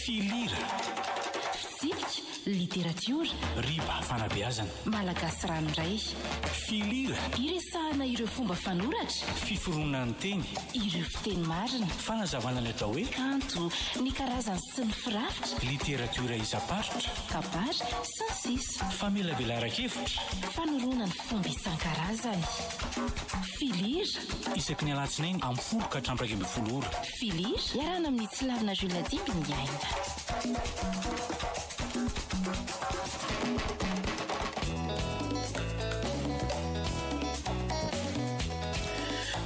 Filira. Fitsipika, literatiora. Riba, fanabeazana. Malagasy ranoray. Filira. Iresahana ireo fomba fanoratra. Fiforonan'ny teny. Ireo fiteny marina. Fanazavana ny atao hoe. Kanto, ny karazany sy ny firafitra. Literatiora isam-paritra. Kabary, sy ny sisa. Famelabelaran-kevitra. Fanoroana ny fomba isan-karazany. Filira. Isaky ny alatsinainy amin'ny folo ka hatramin'ny iraika ambin'ny folo ora. Filir, iarahana amin'i Tsilavina Jules Nadimby ny aina.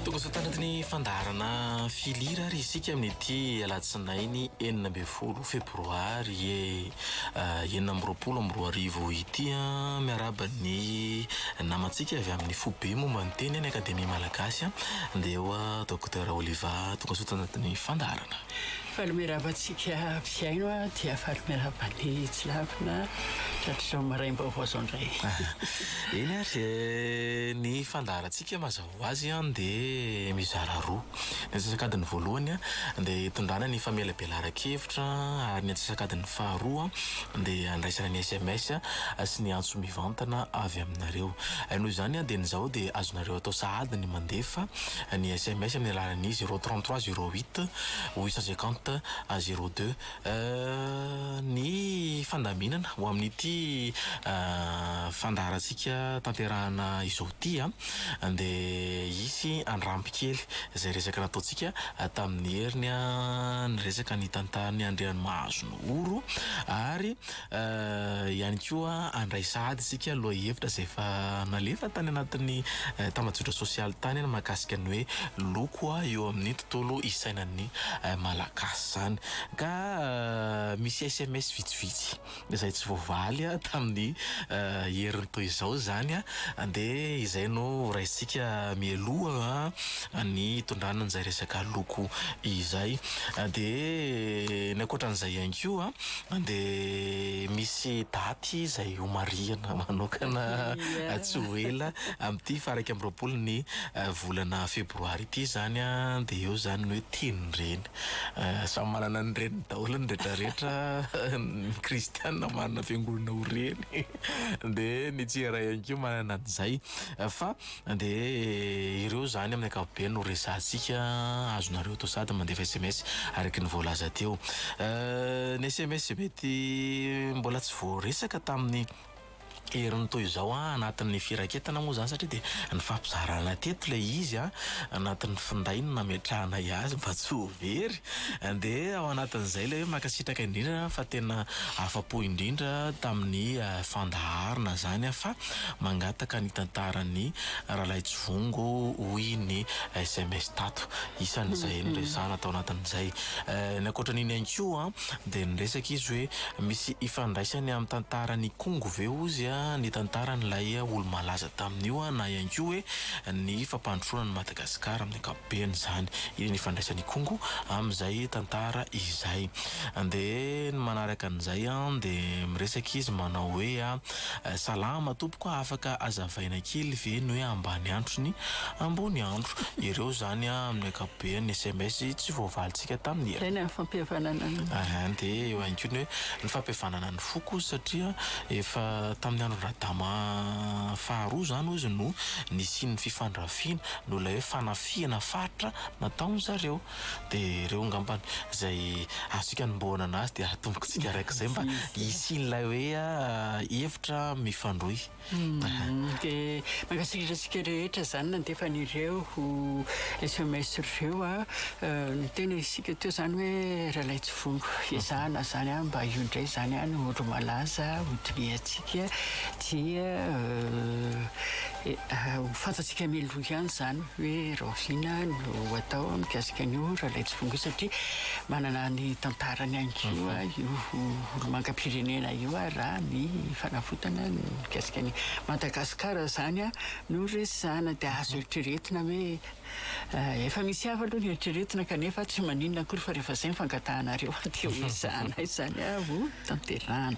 Tongosoa tanaty ny fandaharana Filir ary isika amin'ity alatsinainy enina ambin'ny folo febroary e, eh, enina amby roapolo amby roa arivo ity an, ah, miaraba ny namantsika avy amin'ny foibe momba ny teny any akademia malagasy an, dia eo ah, Dia Raoliva tonga soa tanatin'ny fandaharana. Faly miarahaba antsika mpihaino aho dia faly miarahaba ny tsy lavina tratrizao maraim-baovao zao indray. Eny ary ny fandaharantsika mazava ho azy dia mizara roa. Ny antsasakadiny voalohany dia hitondrana ny famelabelaran-kevitra ary ny antsasakadiny faharoa dia handraisana ny sms sy ny antso mivantana avy aminareo. Noho izany dieny izao dia azonareo atao sahady ny mandefa. ny sms amin'ny alalan'ny zéro trente trois zéro huit huit cent cinquante zéro deux ny fandaminana ho amin'ity fandaharantsika tanterahana izao ity an dia hisy handramby kely izay resaka nataontsika tamin'ny heriny an niresaka ny tantaran'i Andrianomahazo Noro ary ihany koa handray sahady isika lohahevitra izay efa nalefa tany anatin'ny tambajotra sosialy tany mahakasika ny hoe loko eo amin'ny tontolo isainan'ny Malagasy izany. Ka misy sms vitsivitsy izay tsy voavaly tamin'ny heriny toy izao izany dia izay no horaisintsika mialoha ny hitondrana an'izay resaka loko izay. Dia ny ankoatra an'izay ihany koa Dia misy daty izay homarihana manokana tsy ho ela amin'ity faha iraika amby roapolo ny volana febroary ity izany an, dia eo izany ny hoe Tenin-dreny. Samy manana ny reniny daholo ny retraretra, ny kristiana manana fiangonana ho reny, dia ny tsy iray ihany koa manana an'izay. Fa Dia ireo izany amin'ny ankapobeny no resahantsika, azonareo atao sady mandefa sms araka ny voalaza teo. Ny sms izay mety mbola tsy voaresaka tamin'ny herin'ny toy izao an, anatin'ny firaketana moa izany satria dia nifampizarana teto ilay izy an, anatin'ny finday no nametrahanay azy mba tsy ho very. Dia ao anatin'izay ilay hoe mankasitraka indrindra fa tena afa-po indrindra tamin'ny fandaharana izany an, fa Mangataka ny tantaran'ny Ralaitsivongo hoy ny sms tato. Isan'izay noresahana tao anatin'izay. Ny ankoatran'iny ihany koa dia niresaka izy hoe misy ifandraisany amin'ny tantaran'Ikongo ve hozy ny tantaran'ilay olo-malaza tamin'io na ihany koa hoe ny fampandrosoana an'i Madagasikara amin'ny ankapobeny izany. Iny ny ifandraisan'Ikongo amin'izay tantara izay. Dia ny manaraka an'izay dia miresaka izy manao hoe. Salama tompoko afaka azavaina kely ve ny hoe ambany andro sy ny ambony andro ireo zany amin'ny akapobeany ny sms tsy voavalintsika tamin'ny Zay ny fampihavanana ny. Aha dia eo ihany koa ny hoe ny fampihavanana ny foko satria efa tamin'ny andron-dRadama faharoa zany hozy no nisian'ny fifandrafiana noho ilay hoe fanafihana faritra nataon'zareo dia ireo ngambany izay azontsika anombohana an'azy dia atomboka tsika raik'izay mba hisian'ilay hoe hevitra mifandrohy dia mankasitraka antsika rehetra izany nandefa an'ireo sms ireo a ny tena isika teo izany hoe Ralaitsifongo ezahana izany a mba io indray izany a no olo malaza ho toniantsika dia ho fantatsika mialoha ihany izany hoe rahoviana no atao mikasika an'io ralaitsifongoa satria manana ny tantarany ihany koa io olomangam-pirenena io ary raha ny fanavotana ny mikasika ny Madagasikara izany no resahana dia azo eritreretina hoe eh, efa misy hafa aloha ny eritreretina kanefa tsy maninona akory fa rehefa izay ny fangatahanareo dia ho ezahanay izany avo tanterahana.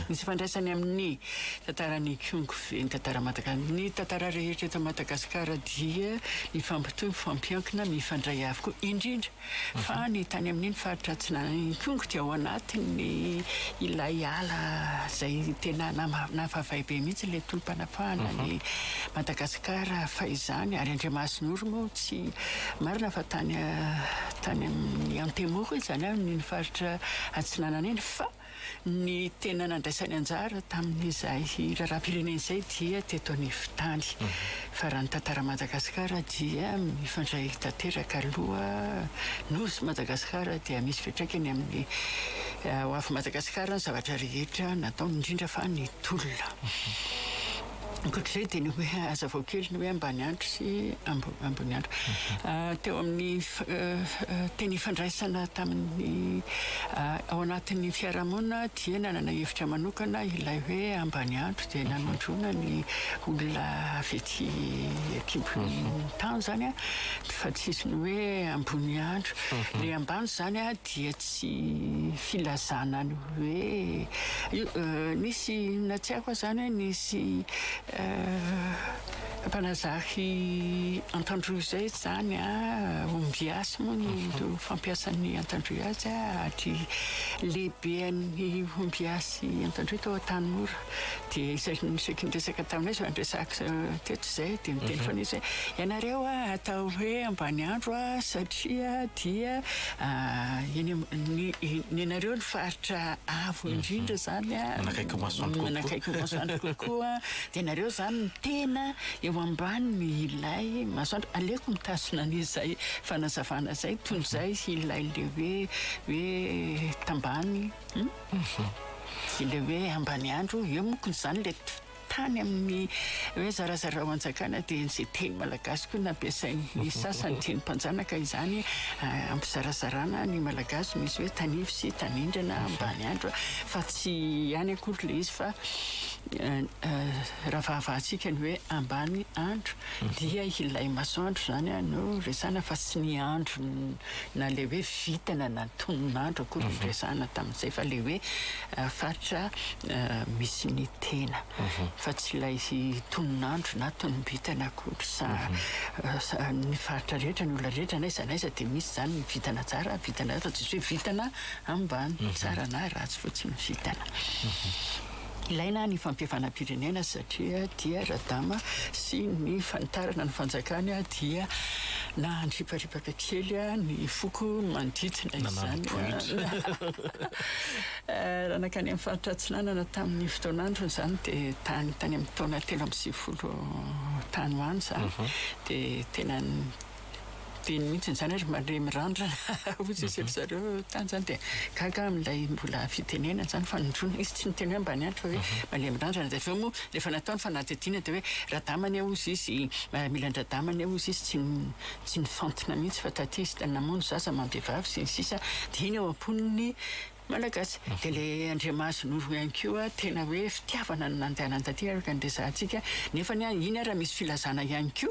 Misy ifandraisany amin'ny tantaran'i Kyung ve ny tantara Madagasikara? Ny tantara rehetra eto Madagasikara dia mifampitohy, mifampiankina, mifandray avokoa, indrindra fa ny tany amin'iny faritra atsinanan'i Kyung dia ao anatin'ny ilay ala izay tena nahavay be mihitsy ilay tolom-panafahana an'i Madagasikara fahizany ary Andriamasinoro moa tsy marina fa tany tany amin'ny Antemoro izany amin'iny faritra Atsinanana iny fa ny tena nandraisany anjara tamin'izay raharaham-pirenena izay dia teto anivon-tany fa raha ny tantaran'i Madagasikara dia mifandray tanteraka aloha Nosy Madagasikara dia misy fiantraikany amin'ny hoavin'i Madagasikara ny zavatra rehetra nataony indrindra fa ny tolona. Ankoatr'izay dia ny hoe hazavao kely ny hoe Ambaniandro sy Amboniandro. Teo amin'ny teny ifandraisana tamin'ny ao anatin'ny fiarahamonina dia nanana hevitra manokana ilay hoe Ambaniandro dia nanondroana ny olona avy ety an-kibon'ny tany izany fa tsy izy ny hoe Amboniandro. Ilay ambany izany dia tsy filazana ny hoe nisy na tsy haiko aza izany hoe nisy mpanazary antandroy izay izany ombiasy moa ny fampiasan'ny antandroy azy ary lehibean'ny ombiasy antandroy tao Antanimora dia izay niseky niresaka taminay izay niresaka teto izay dia niteny mhm. foana izy hoe ianareo a atao hoe ambany andro a satria dia eny ny anareo ny faritra avo mhm. indrindra zany a manakaiky masoandro kokoa manakaiky masoandro kokoa dia ianareo zany ny tena eo ambaniny ilay masoandro aleko mitasina an'izay fanazavana izay toy izay ilay le hoe hoe tambany hmm? Ilay hoe Ambaniandro, eo moa ko izany ilay tany amin'ny hoe zarazarao anjakana dia izay teny malagasy koa nampiasain'ny sasany teny mpanjanaka izany hampizarazarana ny malagasy misy hoe tanivo sy tanindrana Ambaniandro fa tsy ihany akory ilay izy fa raha fahavahantsika ny hoe Ambaniandro dia ilay masoandro izany no resahana fa tsy ny andro na ilay hoe vintana na ny tonon'andro akory no resahana tamin'izay fa ilay hoe faritra misy ny tena fa tsy ilay tonon'andro na tonom-bintana akory sa ny faritra rehetra ny olona rehetra na iza na iza dia misy izany ny vintana tsara vintana fa tsy misy hoe vintana ambany tsara na ratsy fotsiny ny vintana Ilaina ny fampihavanam-pirenena satria dia Radama sy ny fanitarana ny fanjakany dia nandriparipaka kely ny foko manodidina izany. Raha nankany amin'ny faritra Atsinanana tamin'ny fotoan'androny izany dia tany tany amin'ny taona telo amby sivifolo tany ho any izany dia tena be mihitsy izany hoe ry mandre mirandrana hoy sisa ry zareo tany izany dia gaga aho amin'ilay mbola fitenenana izany fa nindroana izy tsy niteny hoe ambany andro fa hoe mandre mirandrana dia avy eo moa rehefa natao ny fanadihadiana dia hoe radama anie hoy sisy miaramila an-dradama anie hoy sisy tsy tsy nifantina mihitsy fa taty izy tany namono zaza aman-behivavy sy ny sisa dia iny ao am-pon'ny Malagasy. Dia le Andriamaso Noro ihany koa tena hoe fitiavana no nandehanany taty araka ny resahantsika. Nefany an, iny ary misy filazana ihany koa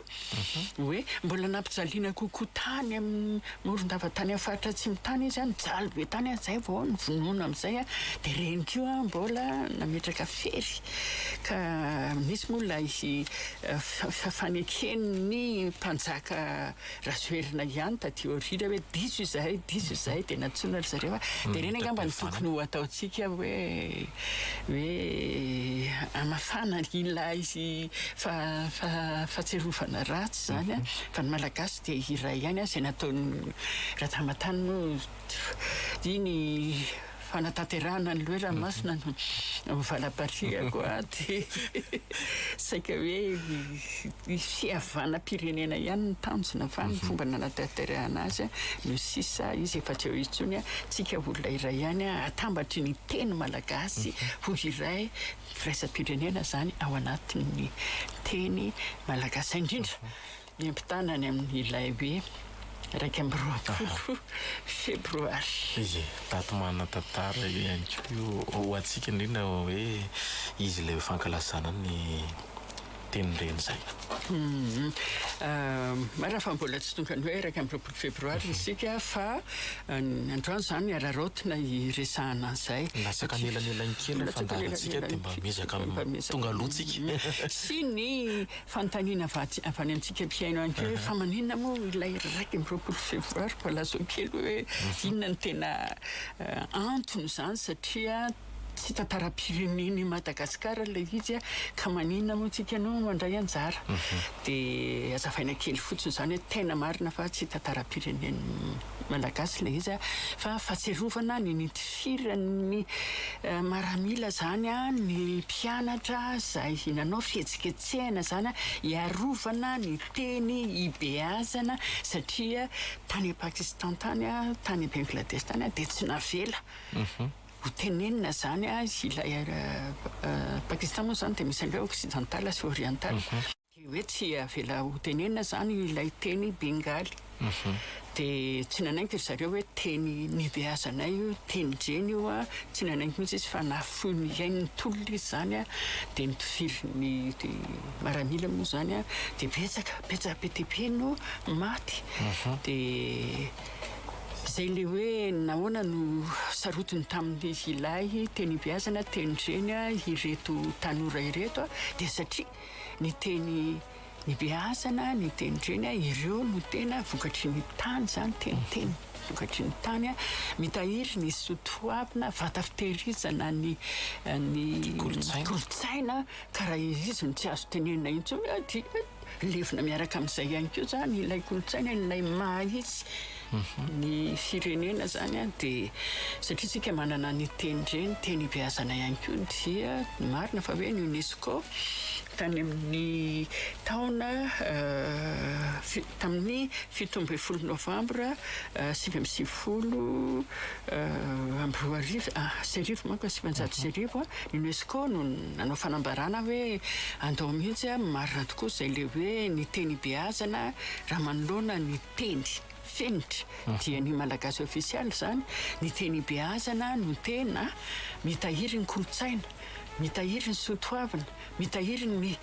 hoe mbola nampijaliana kokoa tany amin'ny Morondava tany amin'ny faritra Atsimo tany izy an, nijaly be tany an, izay vao nivonona amin'izay an, dia ireny koa an mbola nametraka fery ka nisy moa ilay faneken'ny mpanjaka Rajoelina ihany taty aoriana hoe diso izahay, diso izahay dia nantsoina ry zareo a! Dia ireny angamba no tokony ho ataontsika hoe hoe hamafana ilay fahatsiarovana ratsy izany a! Fa ny Malagasy dia iray ihany a! Izay nataon'i Ratamatana moa dia ny fanatanterahana ny loha ranomasina no ho valam-patrihako aty. Saika hoe ny fihavanam-pirenena ihany no tanjona fa ny fomba nanatanterahana azy no sisa, izy efa tsy eo intsony an! Tsika olona iray ihany an! Atambatry ny teny malagasy ho iray firaisam-pirenena izany ao anatin'ny teny malagasy indrindra. Miampitana any amin' ilay hoe iraika amby roapolo febroary. Ie, daty manan-tantara io ihany koa io ho antsika indrindra hoe izy ilay fankalazana ny Tenin-dreny izay. Humm. Marina fa mbola tsy tonga ny hoe iraika amby roapolo febroary isika fa ny androany izany araraotina hiresahana an'izay. Latsaka anelanelan'ny kely ny fandaharantsika dia mba miezaka tonga aloha tsika. Sy ny Fanontaniana avy any amintsika mpihaino ihany koa hoe fa maninona moa ilay iraika amby roapolo febroary mbola lazao kely hoe inona no tena antony izany satria tsy tantaram-pirenena i Madagasikara ilay izy ka maninona moa tsika no mandray anjara dia hazavaina kely fotsiny izany hoe tena marina fa tsy tantaram-pirenena Malagasy ilay izy a, fa fahatsiarovana ny nitifiran'ny maramila izany ny mpianatra izay nanao fihetsiketsehana izany hiarovana ny teny hibeazana satria tany Pakistan tany, tany Bengladesh tany dia tsy navela ho tenenina izany ilay Pakistan moa izany dia misy an'ireo occidental sy oriental. Dia hoe tsy avela ho tenenina izany ilay teny bengaly. Dia tsy nanaiky ry zareo hoe teny nibeazanay io, teny djeny io an, tsy nanaiky mihitsy izy fa nahafoy ny ain'ny tolona izy izany an, dia ny mpifirin'ny maramila moa izany an, dia betsaka, betsaka be dia be no maty. Dia izay ilay hoe nahoana no sarotiny tamin'ilay teny ibeazana, teny djeny an, ireto tanora ireto an, dia satria. Ny teny nibeazana, ny teny reny, ireo no tena vokatry ny tany izany, teniteny vokatry ny tany. Mitahiry ny soa toavina, vata fitehirizana ny ny kolontsaina, ka raha izy no tsy azo tenenina intsony dia levona miaraka amin'izay ihany koa izany ilay kolontsaina, ilay maha izy. Ny firenena zany an dia satria tsika manana ny teny ndray ny teny ibeazana ihany koa dia marina fa hoe ny UNESCO tany amin'ny taona tamin'ny fito ambin'ny folo novambra sivy amby sivifolo amby roa arivo sy arivo manko ny sivinjato sy arivo an ny UNESCO no nanao fanambarana hoe andao mihitsy an marina tokoa izay le hoe ny teny ibeazana raha manoloana ny Teny, fenitra, dia ny malagasy ofisialy izany, ny teny ibeazana no tena mitahiry ny kolontsaina, mitahiry ny soatoavina, mitahiry ny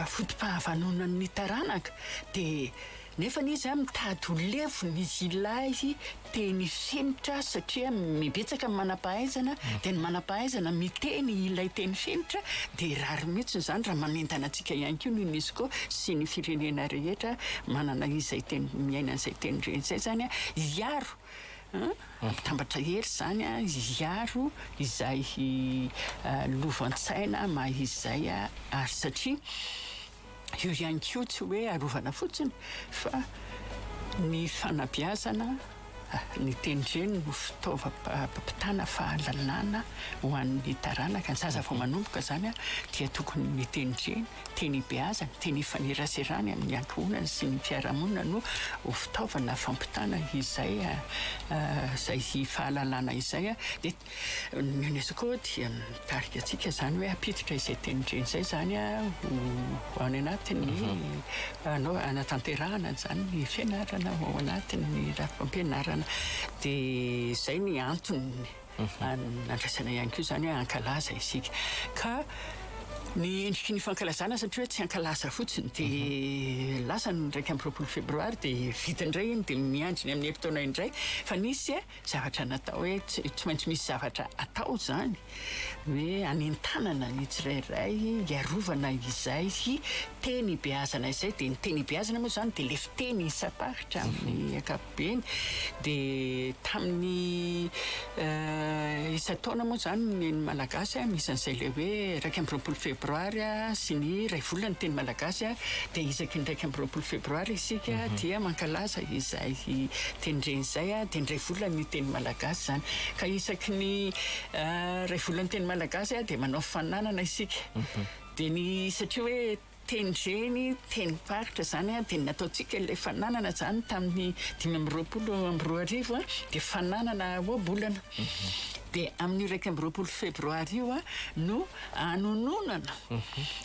foto-pahavanonan'ny taranaka, dia nefany izy an mitady ho levona izy ilay te ny fenitra satria mibetsaka ny manampahaizana dia ny manampahaizana miteny ilay teny fenitra dia rariny mihitsy izany raha manentana antsika ihany koa ny unesco sy ny firenena rehetra manana izay teny miaina izay teny reny izay zany a hiaro mitambatra hery zany a hiaro izay lovantssaina maha izay a ary satria Io ihany koa tsy hoe arovana fotsiny fa ny fanabeazana, ny teny dreny no fitaovam-pampitana fahalalana ho an'ny taranaka. Ny zaza vao manomboka izany dia tokony ny teny dreny, teny ibeazany, teny ifaneraserany amin'ny ankohonany sy ny fiarahamonina no ho fitaovana fampitana izay fahalalana izay. Ny UNESCO dia mitarika antsika izany hoe hampiditra izay tenin-dreny izay izany ho ao any anatin'ny hanao hanatanterahana an'izany ny fianarana ao anatin'ny rafi-pampianarana. Dia izay ny antony nandraisana ihany koa izany hoe hankalaza isika. Ka ny endriky ny fankalazana satria hoe tsy hankalaza fotsiny dia lasa ny iraika amby roapolo febroary dia vita indray iny dia miandry ny amin'ny herintaona indray fa nisy Zavatra natao hoe tsy maintsy misy zavatra atao izany hoe anentanana ny tsirairay hiarovana izay teny ibeazana izay, dia ny teny ibeazana moa izany dia lefy teny isam-paritra amin'ny ankapobeny, dia tamin'ny isan-taona moa izany ny Malagasy a, misy an'izay ilay hoe iraika amby roapolo febroary a sy ny iray volana ny teny Malagasy a, dia isaky ny iraika amby roapolo febroary isika dia mankalaza izay. Izay tendreny izay dia indray volana io teny malagasy izany. Ka isaky ny iray volana teny malagasy dia manao fananana isika. Dia ny satria hoe tendreny, tenim-paritra izany dia ny nataontsika ilay fananana izany tamin'ny dimy amby roapolo amby roa arivo dia fananana ohabolana. Dia amin'io iraika amby roapolo febroary io no Hanononana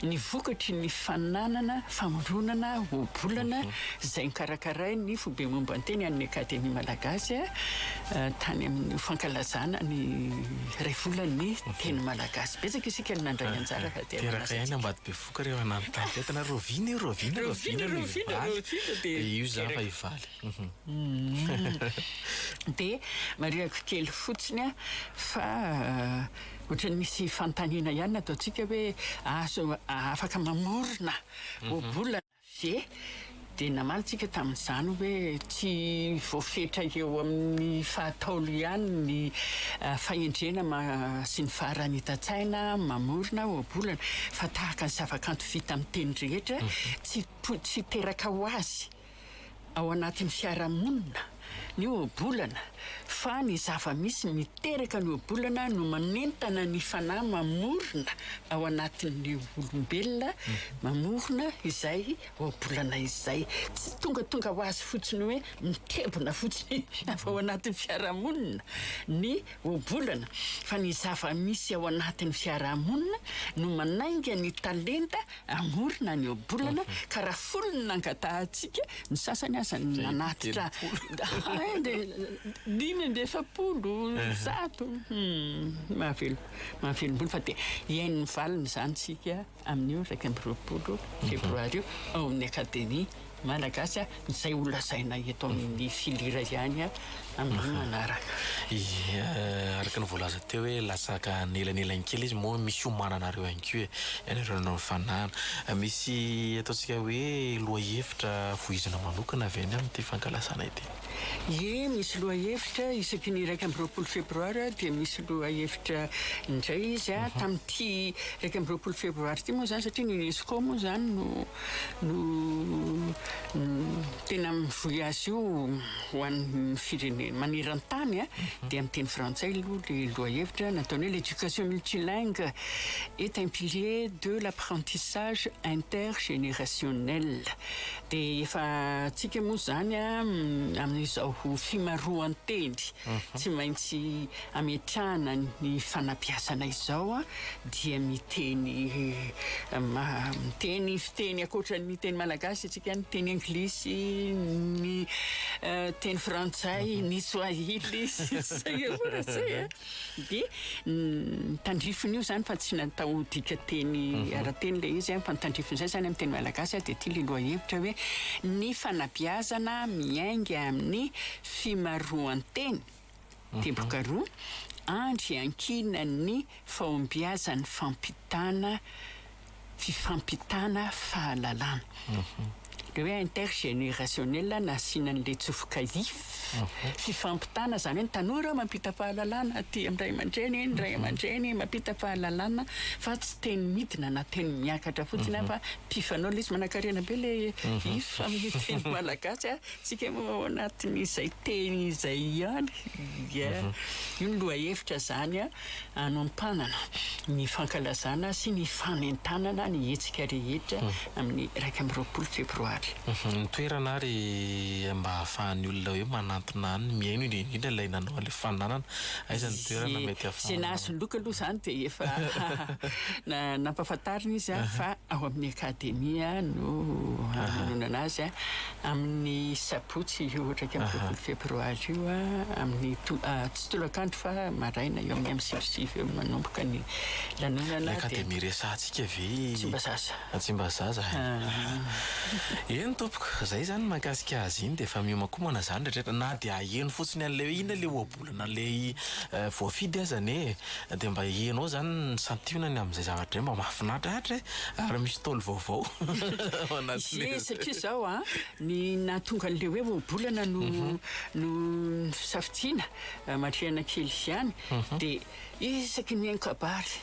ny vokatry ny fananana famoronana ohabolana izay nokarakarain'ny Foibe Momban-teny an'ny Akademia Malagasy tany amin'ny fankalazana ny iray volan'ny teny malagasy. Betsaka isika no nandray anjara ka dia manasa antsika. Teraka ihany Ambatobevohoka ireo nanontany tena rahoviana io, rahoviana, rahoviana ny hivaly, dia io za efa hivaly. Dia marihako kely fotsiny fa. Ohatran'ny misy fanontaniana ihany nataontsika hoe azo afaka mamorona ohabolana ve? Dia namaly tsika tamin'izany hoe tsy voafetra eo amin'ny fahataolo ihany ny fahendrena sy ny faharanitan-tsaina mamorona ohabolana fa tahaka ny zavakanto vita amin'ny teny rehetra tsy tsy teraka ho azy. Ao anatin'ny fiarahamonina, ny ohabolana, fa ny zava-misy miteraka ny ohabolana no manentana ny fanahy mamorona ao anatin'ny olombelona, mamorona izay ohabolana izay. Tsy tongatonga ho azy fotsiny hoe mitebona fotsiny avy ao anatin'ny fiarahamonina ny ohabolana, fa ny zava-misy ao anatin'ny fiarahamonina no manainga ny talenta Hamorona ny ohabolana ka raha folo ny nangatahantsika, ny sasany aza nanatitra dimy amby efapolo, zato. Mahavelom-bolo fa dia hihaino ny valiny izany isika amin'io iraika amby roapolo febroary io ao amin'ny Akademia. Malagasy a, izay ho lazaina eto amin'ny filira ihany a, amin'ny manaraka. Ie, araka ny voalaza teo hoe latsaka anelanelany kely izy moa misy omananareo ihany koa e, ianareo nanao ny fanahana. Misy ataontsika hoe lohahevitra vohizana manokana avy any amin'ity fankalazana ity? Ie, misy lohahevitra, isaky ny iraika amby roapolo febroary dia misy lohahevitra indray izy a, tamin'ity iraika amby roapolo febroary ity moa izany satria ny UNESCO moa izany no. no tena mivoy azy io ho an'ny firenena maneran-tany dia amin'ny teny frantsay aloha ilay lohahevitra nataony hoe l'éducation multilingue est un pilier de l'apprentissage intergénérationnel dia efa antsika moa izany amin'izao fimaroan-teny tsy maintsy ametrahana ny fanapiasana izao dia miteny miteny fiteny akoatran'ny teny malagasy isika ny teny anglisy ny teny frantsay ny swahili dia tandrifin'io izany fa tsy natao dika teny mhm. ara-teny ilay izy fa tandrifin'izay izany amin'ny teny malagasy dia ity liloha hevitra hoe ny fanapiazana miainga amin'ny fimaroan-teny Teboka roa andro iankinan'ny fahombiazan'ny fampitana fifampitana fahalalana. Ilay hoe intergénérationnel nasiana an'ilay tsofoka if. Fifampitana izany hoe ny tanora mampita fahalalana aty amin'ny ray aman-dreny, ny ray aman-dreny mampita fahalalana fa tsy teny midina na teny miakatra fotsiny fa mpifanao ilay izy. Manankarena be ilay if amin'ny teny malagasy a! Tsika moa ao anatin'izay teny izay ihany dia io ny lohahevitra izany hanompanana ny fankalazana sy ny fanentanana ny hetsika rehetra amin'ny iraika amby roapolo febroary. Ny toerana ary mba ahafahan'ny olona hoe manantona any ny mihaino indrindra indrindra ilay nanao an'ilay fananana, aiza ny toerana mety Ze ahafahanao? nahazo loka aloha izany dia efa na- nampahafantarina izy fa ao amin'ny Akademia no hanononana azy. Amin'ny sabotsy io iraika amby roapolo febroary io, amin'ny tsy tolakandro fa maraina, eo amin'ny amin'ny sivy sy sivy eo no manomboka ny lanonana. Ilay akademia resahantsika ve? Tsimbazaza. Tsimbazaza e. Eny tompoko, izay izany ny mahakasika azy iny dia efa mihomakomana izany rehetra rehetra na dia aheno fotsiny an'ilay hoe inona ilay olona lay voafidy azany e! dia mba enao zany ny santionany amin'izay zavatra zay mba mahafinaritra atra e! ary misy tôly vaovao ao anatin'le Izay satria zao an, ny nahatonga an'le hoe ohabolana no no fisafidiana, aman-trehana kely ihany, dia isaky ny mihaino kabary,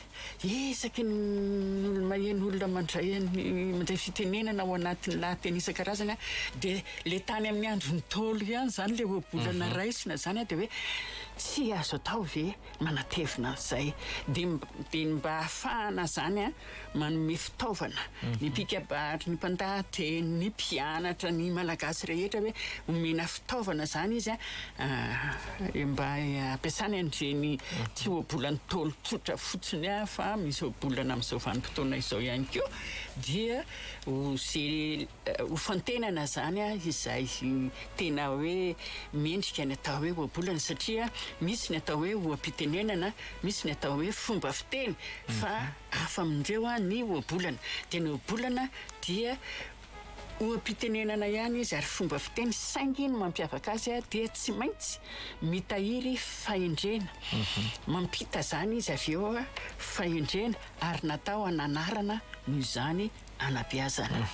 Isaky ny olo-maheno, olona mandray an'i, mandray fitenenana ao anatin'ny lahateny isan-karazany an, dia ilay tany amin'ny andro Ntaolo ihany izany ilay ohabolana raisina izany an, dia hoe tsy azo atao ve manatevina an'izay? Dia mb, dia ny mba hahafahana izany an, manome fitaovana ny mpikabary, ny mpandahateny, ny mpianatra, ny Malagasy rehetra hoe omena fitaovana izany izy an, Mba ampiasana an'ireny tsy ohabola Ntaolo tsotra fotsiny aho fa misy ohabolana amin'izao vanim-potoana izao ihany koa dia hofantenana izany izay tena hoe mendrika ny atao hoe ohabolana satria misy ny atao hoe oha-pitenenana, misy ny atao hoe fomba fiteny fa hafa amin'ireo ny ohabolana. Dia ny ohabolana dia Oha-pitenenana ihany izy ary fomba fiteny saingy ny mampiavaka azy dia tsy maintsy mitahiry fahendrena. Mampita izany izy avy eo fahendrena ary natao hananarana noho izany hanabeazana.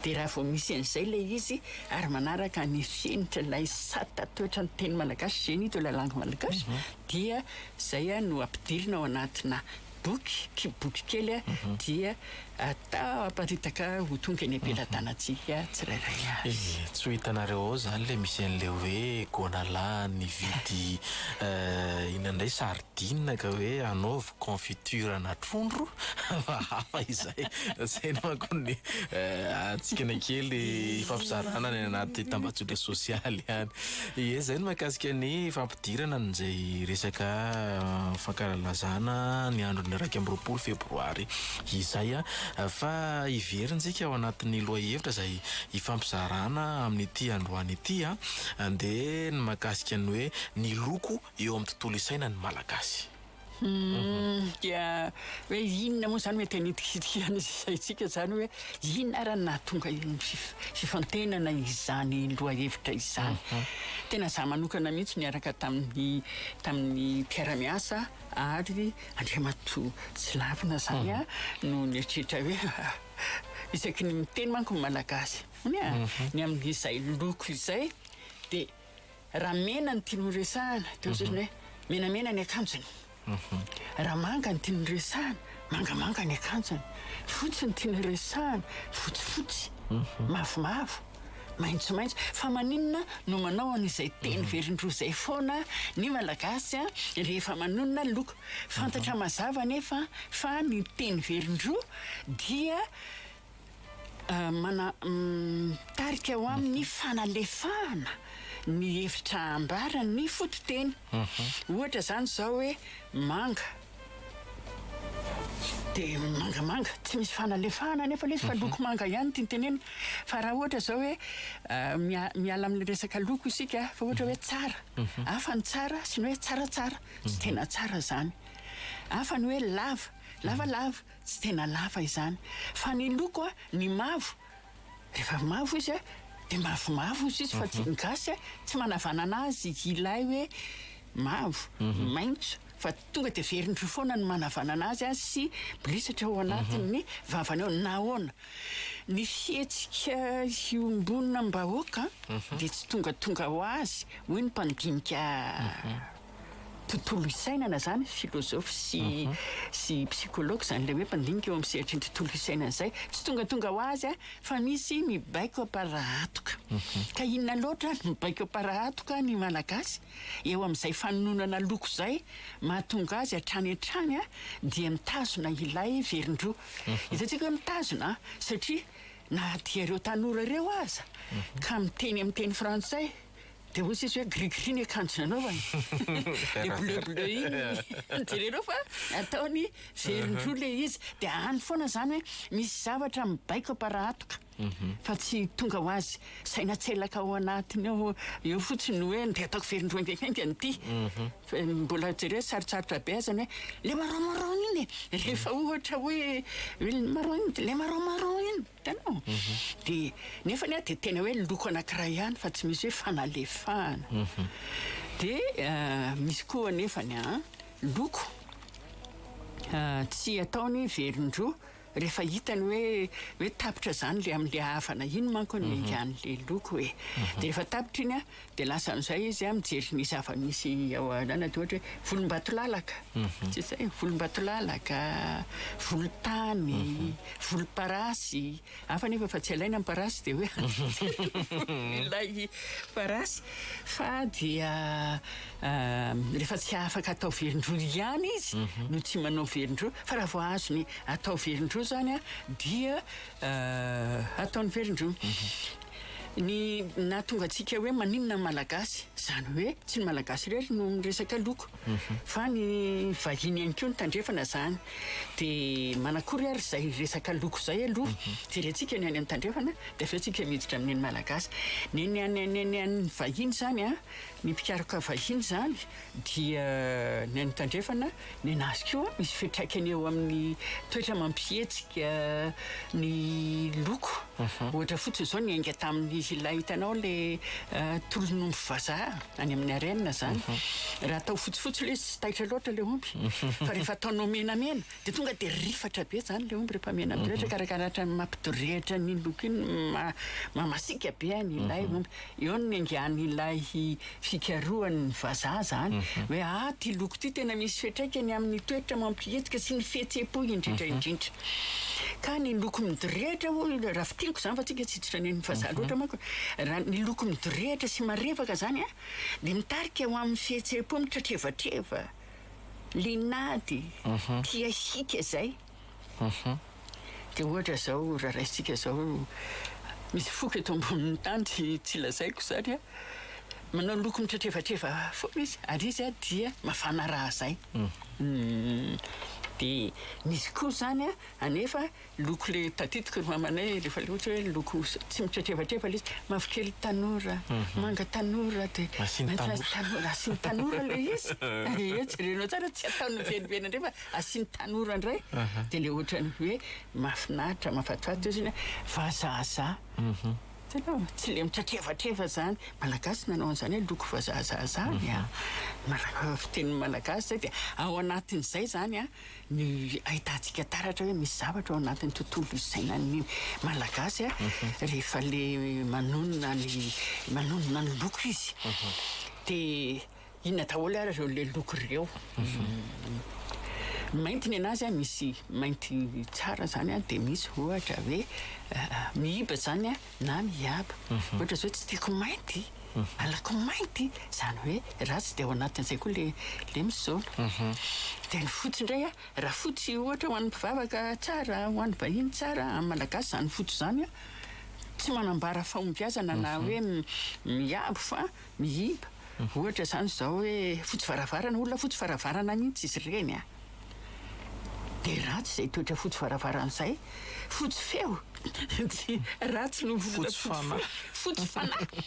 Dia raha vao misy an'izay ilay izy ary manaraka ny fenitran'ilay sata toetran'ny teny malagasy, génie de la langue malagasy, dia izay no ampidirina ao anatina boky ki boky kely a dia atao aparitaka ho tonga eny am-pelatanantsika tsirairay avy. Eh, tsy ho hitanareo ao izany ilay misy an'ilay hoe gona lahy nividy inona indray sardine ka hoe hanaovy confiture ana trondro fa hafa izay, izay no manko ny hatsikana kely ifampizarana any anaty tambajotra sosialy any. Ie, izay no mahakasika ny fampidirana an'izay resaka fankalalazana ny andron'ny iraika amby roapolo febroary izay. Fa hiverintsika ao anatin'ny lohahevitra izay hifampizarana amin'ity androany ity dia ny mahakasika ny hoe ny loko eo amin'ny tontolo isainan'ny Malagasy. Hum, dia hoe inona moa izany mety hanitikitika ny saintsika izany hoe inona ary nahatonga iny fifantenana izany lohahevitra izany. Mhm. Tena za manokana mihitsy niaraka tamin'ny tamin'ny mpiara-miasa ary Andriamatoa Tsilavina izany mhm. a no nieritreritra hoe isaky ny miteny manko ny Malagasy. Ny mhm. amin'izay loko izay dia Raha mena no tianao resahana dia hoatran'ny hoe menamena ny akanjony, raha manga no tianao resahana, mangamanga ny akanjony, fotsy no tianao resahana, fotsifotsy, mavomavo, maitsomaitso. Fa maninona no manao an'izay teny velondroa izay foana ny Malagasy rehefa manonona ny loko? Fantatra mazava anefa fa ny teny velondroa dia Mana, mitarika ho amin'ny fanalefahana ny hevitra ambaran'ny fototeny. Ohatra izany izao hoe manga, dia mangamanga. Tsy misy fanalefahana anefa ilay izy fa loko manga ihany tiany tenenina. Fa raha ohatra izao hoe miala amin'ny resaka loko isika fa ohatra hoe tsara, hafa ny tsara sy ny hoe tsaratsara, tsy tena tsara izany. Hafa ny hoe lava, lavalava, Tsy tena lava izany fa ny loko a, ny mavo rehefa mavo izy a dia mavomavo hozy izy fa tsy ny gasy a tsy manavanana azy ilay hoe mavo, maintso fa tonga dia verindry foana ny manavanana azy a sy mirisatra ao anatin'ny vavany ao. Nahoana? Ny fihetsika iombonam-bahoaka dia tsy tongatonga ho azy hoy ny mpandinika. tontolo isainana zany philosophe sy sy psychologue zany le hoe mpandinika eo amin'ny sehatry ny tontolo isainana zay tsy tongatonga ho azy a fa misy mibaiko amparahatoka ka inona loatra ary mibaiko amparahatoka ny malagasy eo amin'izay fanononana loko zay mahatonga azy hatrany hatrany a dia mitazona ilay verindroa hitantsika hoe mitazona satria na dia ireo tanora ireo aza ka miteny amin'ny teny frantsay Dia hoy tsisy hoe gris gris ny akanjo nanaovany. Dia bleu bleu iny. Jereo fa ataony velon-droa ilay izy. Dia any foana izany hoe misy zavatra mibaiko am-parahatoka mhm. fa tsy tonga ho azy. Saina tselaka ao anatiny ao eo fotsiny hoe dia ataoko velon-droa engakenga an'ity. Mhm. Mbola jereo sarotsarotra be azany hoe le marron marron iny. Rehefa ohatra hoe le marron iny, le marron marron iny. Hitanao? Dia, nefa anie dia tena hoe loko anankiray ihany fa tsy misy hoe fanalefahana. Dia misy koa anefany an, loko tsy ataony velon-droa rehefa hitany hoe hoe tapitra izany ilay amin'ilay havana iny manko no engan'ilay loko e. Dia rehefa tapitra iny an, Dia lasa amin'izay izy mijery ny zava-misy ao anana, dia ohatra hoe volombatolalaka, mhm. tsy izay, volombatolalaka, volontany, mhm. volomparasy, hafa nefa fa tsy alaina ny parasy dia hoe ilay parasy, fa dia ah, rehefa tsy afaka atao velondroa ihany izy mhm. no tsy manao velondroa, fa raha vao azony atao velondroa izany dia ah, ataony velondroa. Ny nahatonga antsika hoe maninona ny Malagasy, izany hoe tsy ny Malagasy irery no miresaka loko fa ny vahiny ihany koa no tandrefana izany. Dia manakory ary izay resaka loko izay aloha. Jerentsika ny any amin'ny tandrefana dia avy eo isika miditra amin'ny an'ny Malagasy. Ny an'ny vahiny izany, ny mpikaroka vahiny izany, dia ny any tandrefana nenazy koa misy fitraikany eo amin'ny toetra mampihetsika ny loko mhm. ohatra fotsiny zao ny ainga tamin'ny ilay hitanao le eh, tolon'omby vazaha any amin'ny arena zany mhm. raha atao fotsifotsy le izy tsy taitra loatra le omby mhm. fa rehefa ataonao menamena de tonga de rifatra be zany le omby rehefa mena be ohatra karakarahatran'ny mampidorehitra ny loko iny mamasika be any ilay omby Eo no niangahan'ilay fikarohan'ny vazaha izany hoe ah ity loko ity tena misy fiantraikany amin'ny toetra mampihetsika sy ny fihetseham-po indrindra indrindra ka ny loko midorehitra hoy raha fintiniko izany fa tsika tsy tsy fanen'ny vazaha loatra manko raha ny loko midorehitra sy marevaka izany an dia mitarika ho amin'ny fihetseham-po mitratrevatreva linady tia hiaka izay Dia ohatra izao, raha raisintsika izao, misy foko eto ambonin'ny tany, tsy tsy lazaiko izany an, manao loko mitretrevatreva foana izy, ary izy an dia mafana rà izay. Dia misy koa izany an, anefa loko le tadidiko ry mamanay rehefa le ohatra hoe loko tsy mitretrevatreva le izy, mavokely tanora, manga tanora, dia maintimainty tanora, asiany tanora le izy, ie, jerenao tsara tsy ataony miveriveny indray fa. Asian'ny tanora indray dia ilay ohatran'ny hoe mahafinaritra, mahafatifaty ozy iny hoe vazahazaha. Hitanao? Tsy ilay mitratrevatreva izany. Malagasy nanao an'izany hoe loko vazahazaha izany an! Mala- fitenin'ny Malagasy izay dia ao anatin'izay izany an, ny ahitantsika taratra hoe misy zavatra ao anatin'ny tontolo isainan'ny Malagasy an, rehefa ilay manonona ny manonona ny loko izy. Dia. Inona daholo ary ireo le loko ireo? Mainty ny anazy misy mainty tsara zany a de misy ohatra hoe mihiba zany a na mihiaba mhm. ohatra zao tsy tiako mainty mhm. alako mainty zany hoe ratsy de ao anatin'izay koa le le misaona mhm. de ny fotsy indray a raha fotsy ohatra ho an'ny mpivavaka tsara ho an'ny vahiny tsara amin'ny malagasy zany fotsy zany a tsy manambara fahombiazana na hoe miabo fa Mihiba, ohatra izany izao hoe fotsy varavarana, olona fotsy varavarana mihitsy izy ireny an! Dia ratsy izay toetra fotsy varavarana izay. Fotsy feo dia ratsy noho ny olona fotsy fanahy. Fotsy fanahy.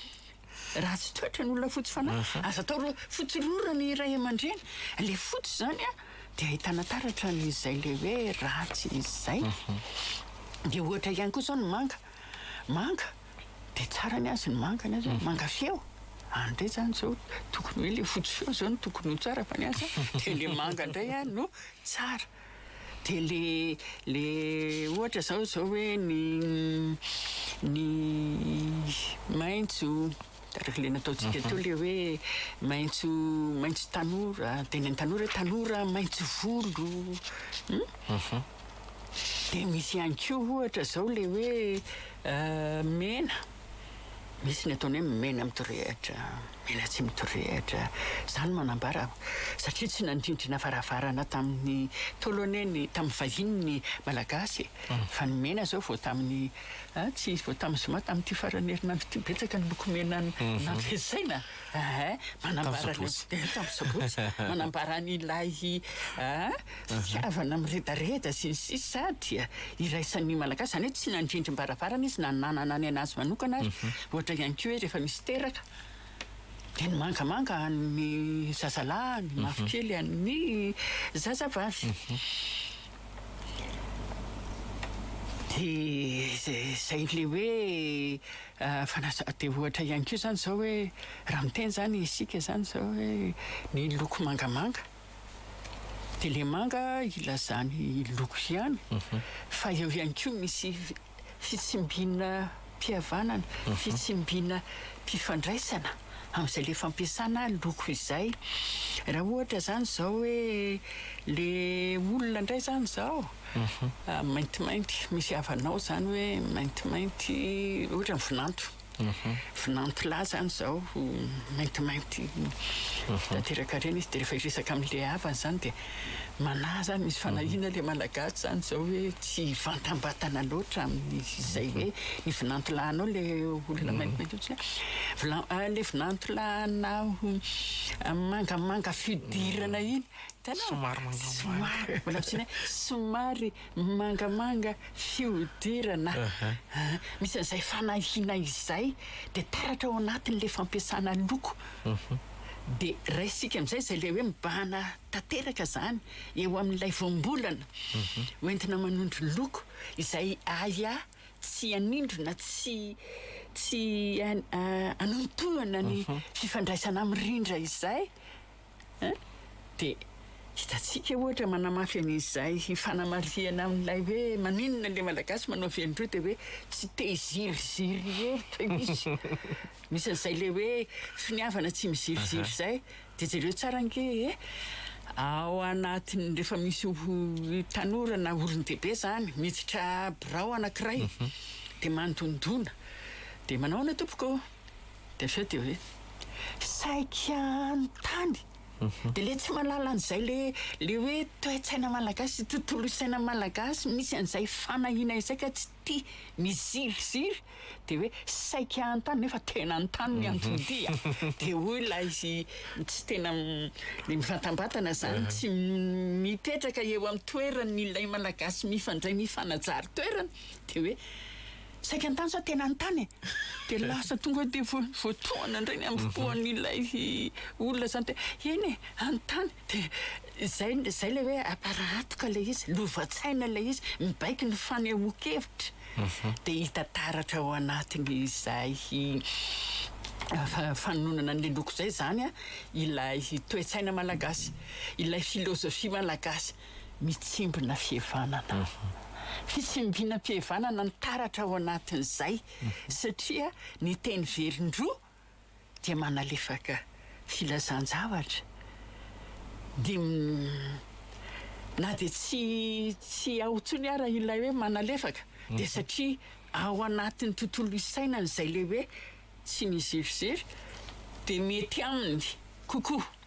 Ratsy toetra ny olona fotsy fanahy. Aza atao hoe fotsy rora ny ray aman-dreny. Ilay fotsy izany an, dia ahitana taratra an'izay ilay hoe ratsy izay. Dia ohatra ihany koa izao ny manga. Manga. Dia tsara ny azy ny manga ny azy hoe manga feo. Any indray izany izao tokony hoe ilay fotsy feo izao no tokony ho tsara fa ny azy dia ilay manga indray an no tsara. Dia ilay ilay ohatra izao izao hoe ny ny maitso araka ilay nataontsika teo ilay hoe maitso maitso tanora dia ny an'ny tanora hoe tanora maitso volo. Dia misy ihany koa ohatra izao ilay hoe mena, misy ny ataony hoe mena mitorehitra, mena tsy mitorehitra. Izany manambara satria tsy nandrindrana varavarana tamin'ny Ntaolo anie ny tamin'ny vahiny ny Malagasy e. Fa ny mena izao vao tamin'ny tsy vao tamin'ny zoma tamin'ity faran'ny herinandro ity betsaka ny loko mena nampiasaina. Aa manambara ny Tamin'ny Sabotsy. Tamin'ny Sabotsy. Manambara an' ilay aa fitiavana miredareda sy ny sisa sa dia iraisan' ny Malagasy. Izany hoe tsy nandrindrim-baravarana izy na nanana ny an' azy manokana ary ohatra ihany koa hoe rehefa misy teraka dia ny mangamanga an' ny zazalahy, ny mavokely an' ny zazavavy. Dia izay ilay hoe fanasa, dia ohatra ihany koa izany izao hoe raha miteny izany isika izany izao hoe ny loko mangamanga, dia ilay manga ilazana ny loko ihany, fa eo ihany koa misy fitsimbinam-pihavanana, fitsimbinam-pifandraisana amin'izay ilay fampiasana loko izay. Raha ohatra izany izao hoe ilay olona indray izany izao, maintimainty, misy havanao izany hoe maintimainty, ohatra ny vinanto. Vinantilahy izany izao maintimainty tanteraka ireny izy dia rehefa hiresaka amin'ilay havany izany dia manahy izany misy fanahiana ilay Malagasy izany izao hoe tsy hivantambatana loatra amin'izay hoe ny vinantilahinao ilay olona maintimainty hoditra hoe ilay vinantilahinao mangamanga fihodirana iny, hitanao? somary mangamanga, somary mangamanga, somary Mangamanga fihodirana misy an'izay fanahiana izay dia taratra ao anatin'ilay fampiasana loko dia raisintsika amin'izay izay ilay hoe mibahana tanteraka izany eo amin'ilay voambolana hoentina manondro loko izay ahiahy tsy hanindrona tsy tsy hanontohana ny fifandraisana mirindra izay Hein? Dia hitantsika ohatra manamafy an'izay fanamarihana amin'ilay hoe maninona ilay Malagasy manao velon-droa dia hoe tsy te hiziriziry hevitra izy. Misy an'izay ilay hoe finiavana tsy miziriziry izay. Dia jereo tsara ange e! Ao anatin'ny rehefa misy tanora na olon-dehibe izany miditra birao anankiray dia mandondona dia manahoana tompoko? de sao de hoe saiky hanontany de le tsy mahalala an'izay le le hoe toe-tsaina malagasy sy tontolo isaina malagasy misy an'izay fanahiana izay ka tsy tia miziriziry de hoe saiky hanontany nefa tena anontany ny antony de hoy ilay tsy tena mivantambatana izany tsy mipetraka eo amin'ny toerany ilay malagasy mifandray mifanajary toerana de hoe Saika an-tany sa tena an-tany e? Dia lasa tonga eo dia vo- voatohana indray ny ambopoan'ilay olona izany dia eny e, an-tany. Dia izay, izay ilay hoe aparahatoka ilay izy, lova-tsaina ilay izy, mibaiko ny fanehoan-kevitra. Dia hita taratra ao anatin'izay fa- fanononana an'ilay loko izay izany ilay toe-tsaina malagasy, ilay filozofia malagasy. mitsimbina fihavanana. Fitsimbina fihavanana ny taratra ao anatin'izay satria ny teny velon-droa dia manalefaka filazan-javatra dia na dia tsy tsy ao intsony ara ilay hoe manalefaka dia satria ao anatin'ny tontolo isainany izay ilay hoe tsy mizirizry dia mety aminy kokoa.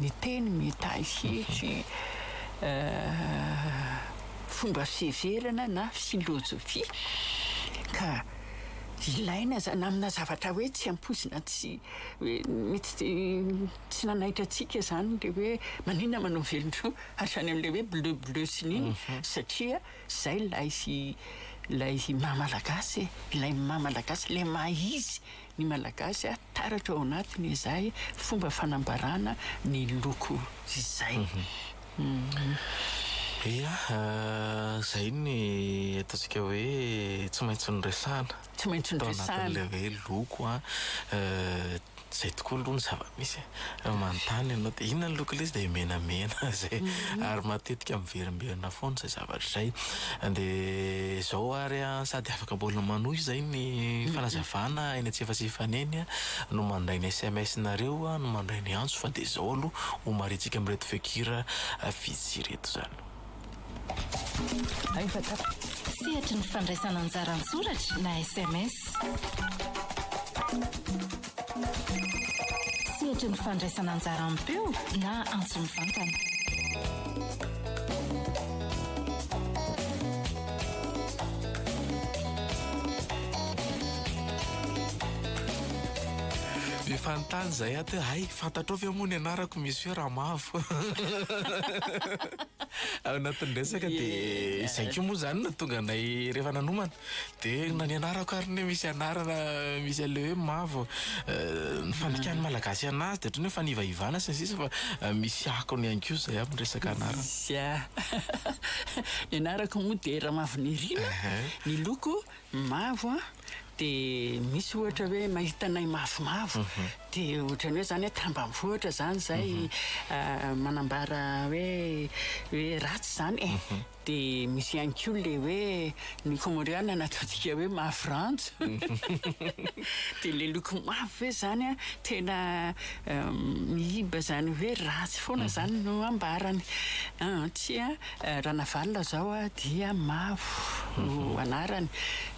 Ny teny mitahy hery, fomba fiheverana na filôzôfia, ka ilaina izany amina zavatra hoe tsy ampoizina tsy hoe mety tsy nanaitra antsika izany ilay hoe maninona manao velon-droa hatrany amin'ilay hoe bleu bleu sy nini satria izay ilay ilay maha malagasy e, ilay maha malagasy ilay maha izy ny Malagasy taratra ao anatiny izay fomba fanambarana ny loko izay. Ia, izay ny ataontsika hoe tsy maintsy noresahana. Tsy maintsy noresahana. Tao anatin'ilay hoe loko an, izay tokoa aloha ny zava-misy e. Raha manontany ianao dia inona ny loko ilay izy dia menamena izay ary matetika miverimberina foana izay zavatra izay. Dia izao ary an, sady afaka mbola manohy izay ny fanazavana eny an-tsefasefany eny an, no mandray ny SMS-nareo an, no mandray ny antso fa dia izao aloha homarihitsika amin'ireto feon-kira vitsy ireto izany. Sehatry ny fandraisana anjara an-tsoratra na sms. Sehatry ny fandraisana anjara am-peo na antso mivantana. Be fanontany izay ato hoe hay fantatrao ve moa ny anarako Monsieur Ramavo? Apo. Ao anatin'ny resaka dia izay koa moa izany no tonga anay rehefa nanomana. Dia na ny anarako ary ny hoe misy anarana misy an'ilay hoe mavo. Ny fandikan'ny Malagasy anazy dia ohatran'ny hoe fanivaivana sy ny sisa fa misy akony ihany koa izay amin'ny resaka anarana. Misy a. Ny anarako moa dia Ramavinirina, ny loko mavo a, dia misy ohatra hoe mahita anay mavomavo dia ohatran'ny hoe izany hoe tambanivohitra izany izay manambara hoe hoe ratsy izany e! dia misy ihany koa ilay hoe ny komoriana nataontsika hoe mavo ranjo dia ilay loko mavo ve izany a tena mihiba izany hoe ratsy foana izany no ambarany an! tsia Ranavalona zao dia Mavo no anarany.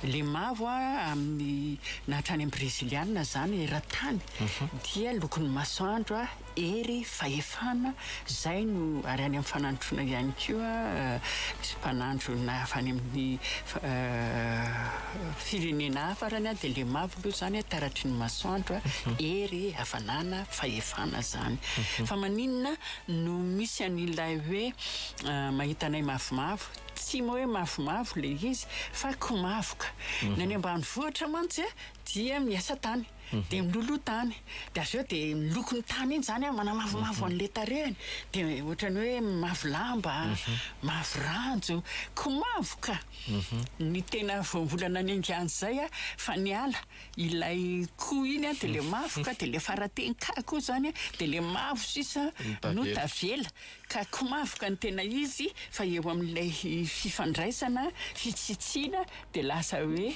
Le mavo amin'ny na hatrany amin'ny brezilianina zany eran-tany dia lokon'ny masoandro, hery, fahefana, zay no ary any amin'ny fanandroana ihany koa misy mpanandrona avy any amin'ny firenena hafa ary dia le mavo aloha zany taratry ny masoandro, hery, hafanana, fahefana zany. Fa maninona? no misy an'ilay hoe mahita anay mavomavo, tsy hoe mavomavo ilay izy fa komavoka, ny any ambanivohitra mantsy dia miasa tany dia miloloha tany dia avy eo dia ny lokon'ny tany iny izany manamavomavo an'ilay tarehiny dia ohatran'ny hoe mavo lamba, mavo ranjo, komavoka ny tena voambolana niainga an'izay fa niala. Ilay koa iny an, dia ilay mavo ka, dia ilay fara-teny ka koa izany an, dia ilay mavo sisa no tavela. Ka ko mavo ka no tena izy, fa eo amin'ilay fifandraisana, fitsitsiana, dia lasa hoe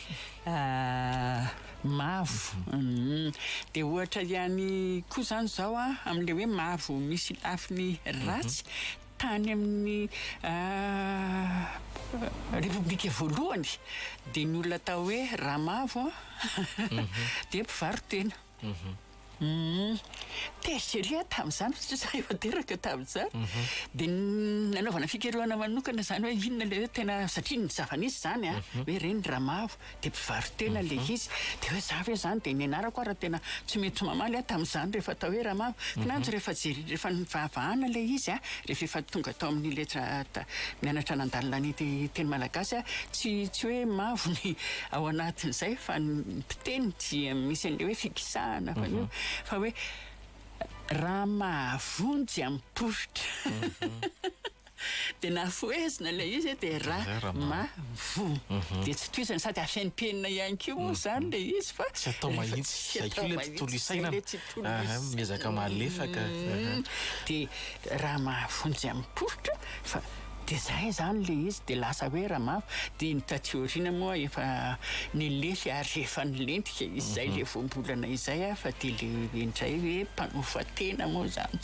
mavo. Humm. Dia ohatra ihany koa izany izao an, amin'ilay hoe mavo misy lafiny ratsy, Tany amin'ny Repoblika voalohany dia ny olona atao hoe Ramavo dia mpivaro-tena. Tezitra ery aho tamin'izany satria izaho efa teraka tamin'izany. Dia nanaovana fikarohana manokana izany hoe inona ilay hoe tena, satria ny zava-nisy izany hoe ireny Ramavo. dia mpivaro-tena ilay izy, dia hoe za ve izany dia nianarako ary tena tsy mety mamaly aho tamin'izany rehefa atao hoe ramavo, kinanjo rehefa jere rehefa nivahavahana ilay izy a, rehefa efa tonga tao amin'ny letra mianatra nandalo lany teny malagasy aho, tsy tsy hoe mavo ny ao anatin'izay fa ny mpiteny dia misy an'ilay hoe fikisahana fa an'io fa hoe raha mahavonjy amin'ny poritra. dia nafohezina ilay izy hoe dia ra ma vo dia tsy tohizana sady afen'ny penina ihany koa moa izany ilay izy fa tsy atao mahitsy tsy atao ilay tontolo isaina miezaka malefaka dia raha mahavonjy amin'ny poritra fa dia zay izany ilay izy dia lasa hoe raha mavo dia ny taty aoriana moa efa nilefy ary efa nilentika izay ilay voambolana izay aho fa dia ilay indray hoe mpanofa tena moa izany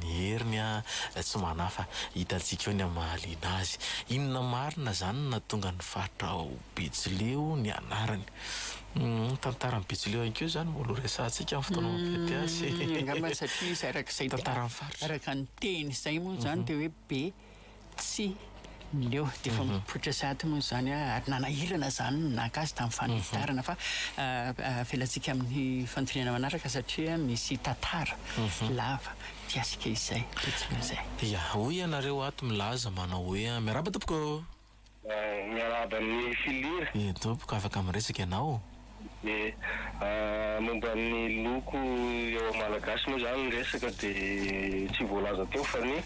Ny heriny tsy manafa, hitantsika eo ny amin'ny mahaliana azy. Inona marina izany no nahatonga ny faritra ao Betsileo ny anarany? Ny tantaran'i Betsileo ihany koa izany mbola ho resahantsika amin'ny fotoana mampety azy. Angamba satria izy araka izay, araka ny teny izay moa izany dia hoe be. Tsia. Leo, dia efa mipoitra sahady moa izany aho, ary nanahirana izany ny naka azy tamin'ny fanitarana. Fa avelantsika amin'ny fanontaniana manaraka satria misy tantara lava ity asika izay, tetsy Mezay. Ia, hoy ianareo ato milaza manao hoe. Miarahaba tompoko. Miarahaba an'i Filir. Dia tompoko afaka miresaka ianao. Dia momba ny loko eo amin'ny Malagasy moa izany ny resaka dia tsy voalaza teo fa ny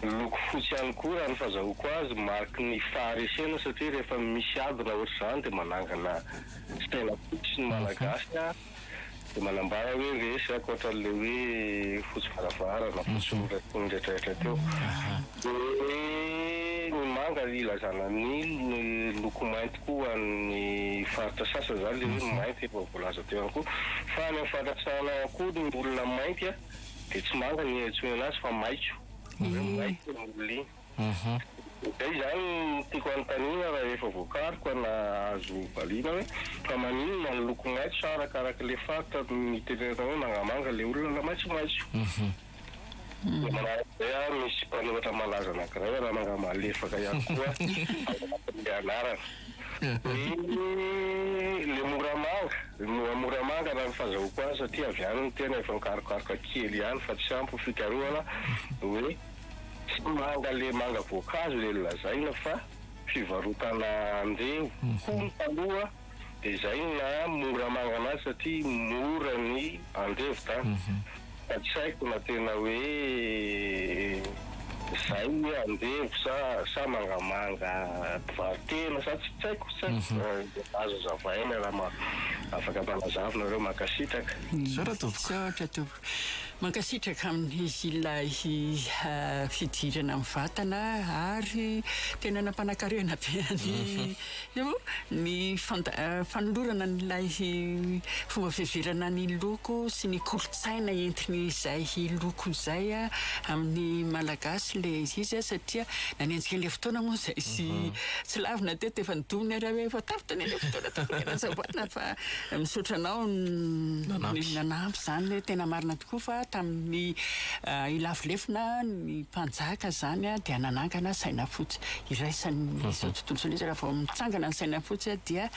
loko fotsy ihany koa raha ny fazahoako azy mariky ny faharesena satria rehefa misy ady na ohatr'izany dia manangana saina fotsy ny Malagasy. dia manambara hoe resy ankoatra an'ilay hoe fotsy varavarana, fotsy noraisiny ndraidraitra teo. Dia ny manga ilazana ny loko mainty koa ho an'ny faritra sasany, izany ilay hoe ny mainty efa voalaza teo ihany koa. Fa any amin'ny faritra Tsaranahy ihany koa ny olona mainty dia tsy manga no iantsoana azy fa maitso, hoe maitso ny olona iny. Uhum. Dia izany no tiako hanontaniana rahefa voakaro ka nahazo valiana hoe fa maninona ny loko maitso sa arakaraka ilay faritra no nitenenana hoe mangamanga ilay olona na maitsomaitso? Dia manaraka izay aho misy mpanoratra malaza anankiray Rananga Malefaka ihany koa ao anatin'ilay anarana. Ny ilay Moramanga, moa Moramanga raha ny fazahoako azy satria avy any ny tena efa nikarokaroka kely ihany fa tsy ampy ny fikarohana hoe. Tsy manga le manga voankazo le lazaina fa fivarotana andevo, hono taloha de zay no naha mora manga anazy satria mora ny andevo da fa tsy haiko na tena hoe zay hoe andevo sa sa mangamanga mpivarotena sa tsy haiko tsy haiko azo azavaina raha afaka mpanazava nareo mankasitraka. Zao raha tompoko. Mankasitraka amin'izy ilay fidirana amin'ny vatana ary tena nampanakarena be an'i Io ny fanolorana an'ilay fomba fiheverana ny loko sy ny kolontsaina entin'izay loko izay amin'ny Malagasy ilay izy satria nanenjika an'ilay fotoana moa izay tsy lavina teto efa nodonany ary efa tapitra ny an'ilay fotoana tokony hanazavana fa Misaotra anao ny nanampy izany, tena marina tokoa fa tamin'ny hilafo lefona ny mpanjaka izany dia nanangana saina fotsy iraisan'izao tontolo izao, nefa raha vao mitsangana ny saina fotsy dia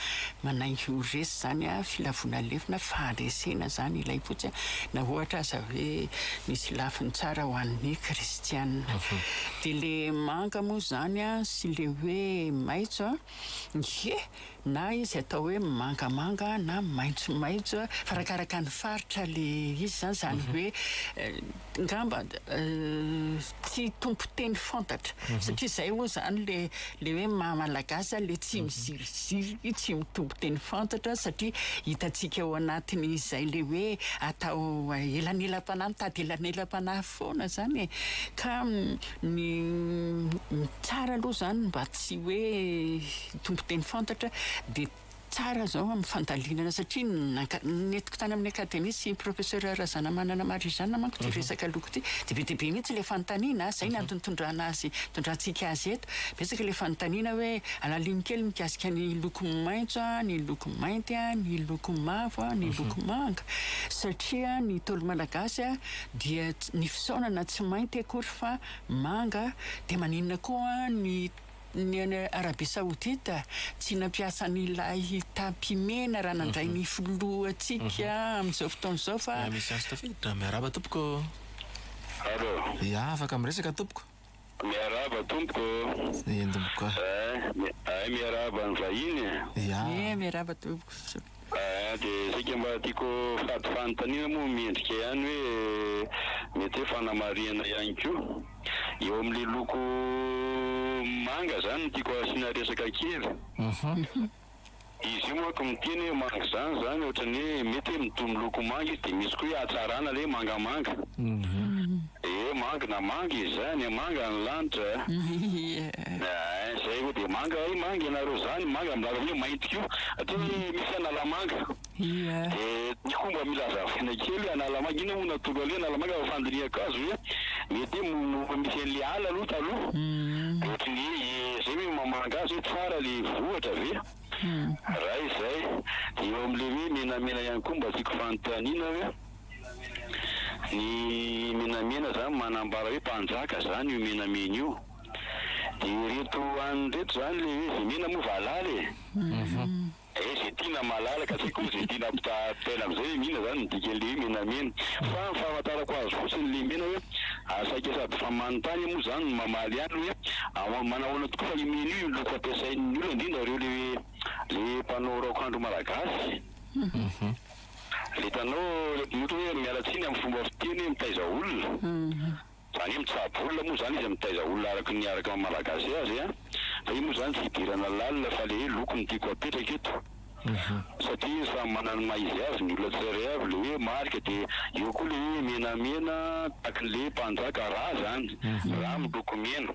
manainga ho resy izany filavoana lefona, faharesena izany ilay fotsy na ohatra aza hoe misy lafiny tsara ho an'ny kristianina. Dia ilay manga moa izany sy ilay hoe maitso, ie! Na izy atao hoe mangamanga na maitsomaitso arakaraka ny faritra le izy zany zany hoe ngamba tsy tompon-teny fantatra satria zay hoy zany le le hoe maha malagasy le tsy miziriziry tsy mitompo teny fantatra satria hitantsika ao anatin'ny izay le hoe atao elanelam-panahy mitady elanelam-panahy foana zany e ka ny tsara aloha zany mba tsy hoe tompon-teny fantatra dia tsara zao amin'ny fandalinana satria nentiko tany amin'ny akademia sy professeur Razanamanana Marijana manko ity resaka loko ity dia be dia be mihitsy ilay fanontaniana ah, zay ny antony tondrana azy tondrantsika azy eto, betsaka ilay fanontaniana hoe alalino kely mikasika ny loko maitso ah, ny loko mainty ah, ny loko mavo ah, ny loko manga satria ny ntaolo malagasy ah dia ny fisaonana tsy mainty akory fa manga dia maninona koa ny Ny any Arabia Saodita, tsy nampiasa an'ilay tapis mena raha nandray ny filohantsika amin'izao fotoana izao fa. Miami Science Tafiditra, miarahaba tompoko ô! Allo. Ia, afaka miresaka tompoko. Miarahaba tompoko ô! Endim-boka. Ay, miarahaba ny vahiny e! Ia. Ie, miarahaba tompoko. Ahh de saika mba tiako fady fanontaniana moa mendrika ihany hoe mety hoe fanamarihana ihany koa eo amin'le loko manga zany no tiako asiana resaka kely. Izy io manko miteny hoe manga zany zany ohatran'ny hoe mety hoe mitovy miloko manga izy de misy koa hoe hatsarana le mangamanga. Ee manga na manga izy zany a manga ny lanitra a ee zay koa dia manga ee manga ianareo zany manga milaza hoe mainty koa satria hoe misy analamanga dia ny koa mba mila azavaina kely hoe analamanga inona moa no atolony an'ilay analamanga fa fandinihan-kazo ve mety hoe moa misy an'ilay ala aloha taloha dia ohatry ny hoe zay ve mamanga azy hoe tsara ilay vohitra ve raha izay dia eo amin'ilay hoe menamena ihany koa mba tiako fanontaniana hoe ny menamena zany manambara hoe mpanjaka zany io menamena io de ireto any ireto zany le hoe ze mena moa valala e eh ze tiana malala ka tsy ko ze tiana ampitahaina amizay hoe mihina zany ny dikanle hoe menamena fa ny fahafantarako azy fotsiny le mena hoe saika sady fa manotany moa zany no mamaly ihany hoe ahoana manahoana tokoa fa io mena io loko ampiasain'ny olona indrindra reo le hoe le mpanao raokandro malagasy. Le hitanao le mpanohitra hoe miala tsiny amin'ny fomba fiteny mitaiza olona, zany hoe mitsabo olona moa zany izy mitaiza olona araka ny araka ny maha-malagasy azy a! fa io moa zany tsy hidirana lalina fa le hoe loko no tiako apetraka eto satria samy manana ny maha izy azy ny olona tsirairay avy, le hoe marika de eo koa le hoe menamena takin'le mpanjaka ra zany, ra miloko mena.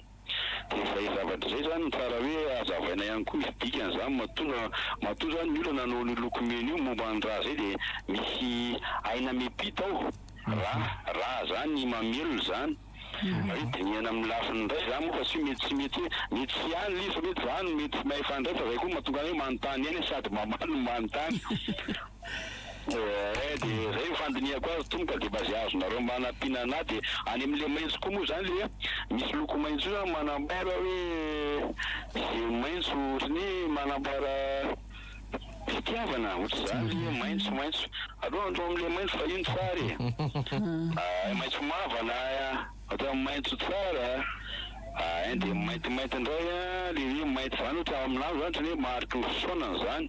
de izay zavatra izay zany no tsara hoe azavaina ihany koa izy dikany zany matoa matoa zany ny olona nanao an'io loko mena io momba ny rà zay de misy aina mipita ao rà rà zany mamelona zany hoe dinihana amin'ny lafiny indray zany moa fa tsy hoe mety tsy mety hoe mety tsy ihany le izy fa mety zany mety tsy mahefa indray fa zay koa mahatonga anay hoe manontany ihany sady mamaly no manontany Eeh de zay ny fandinihako azy tompoko a, de mba ze azonareo mba anampiana anah de any am le maintso koa moa zany le a misy loko maintso io zany manambara hoe ze maintso otrany hoe manambara fitiavana otrzany le hoe maintso maintso aleo andro am le maintso fa iny tsara e ahay maintso mavana ohatra hoe maintso tsara ahay de mainty mainty ndray a le hoe mainty zany ohatra aminah zany otrany hoe mariky ny fisaonana zany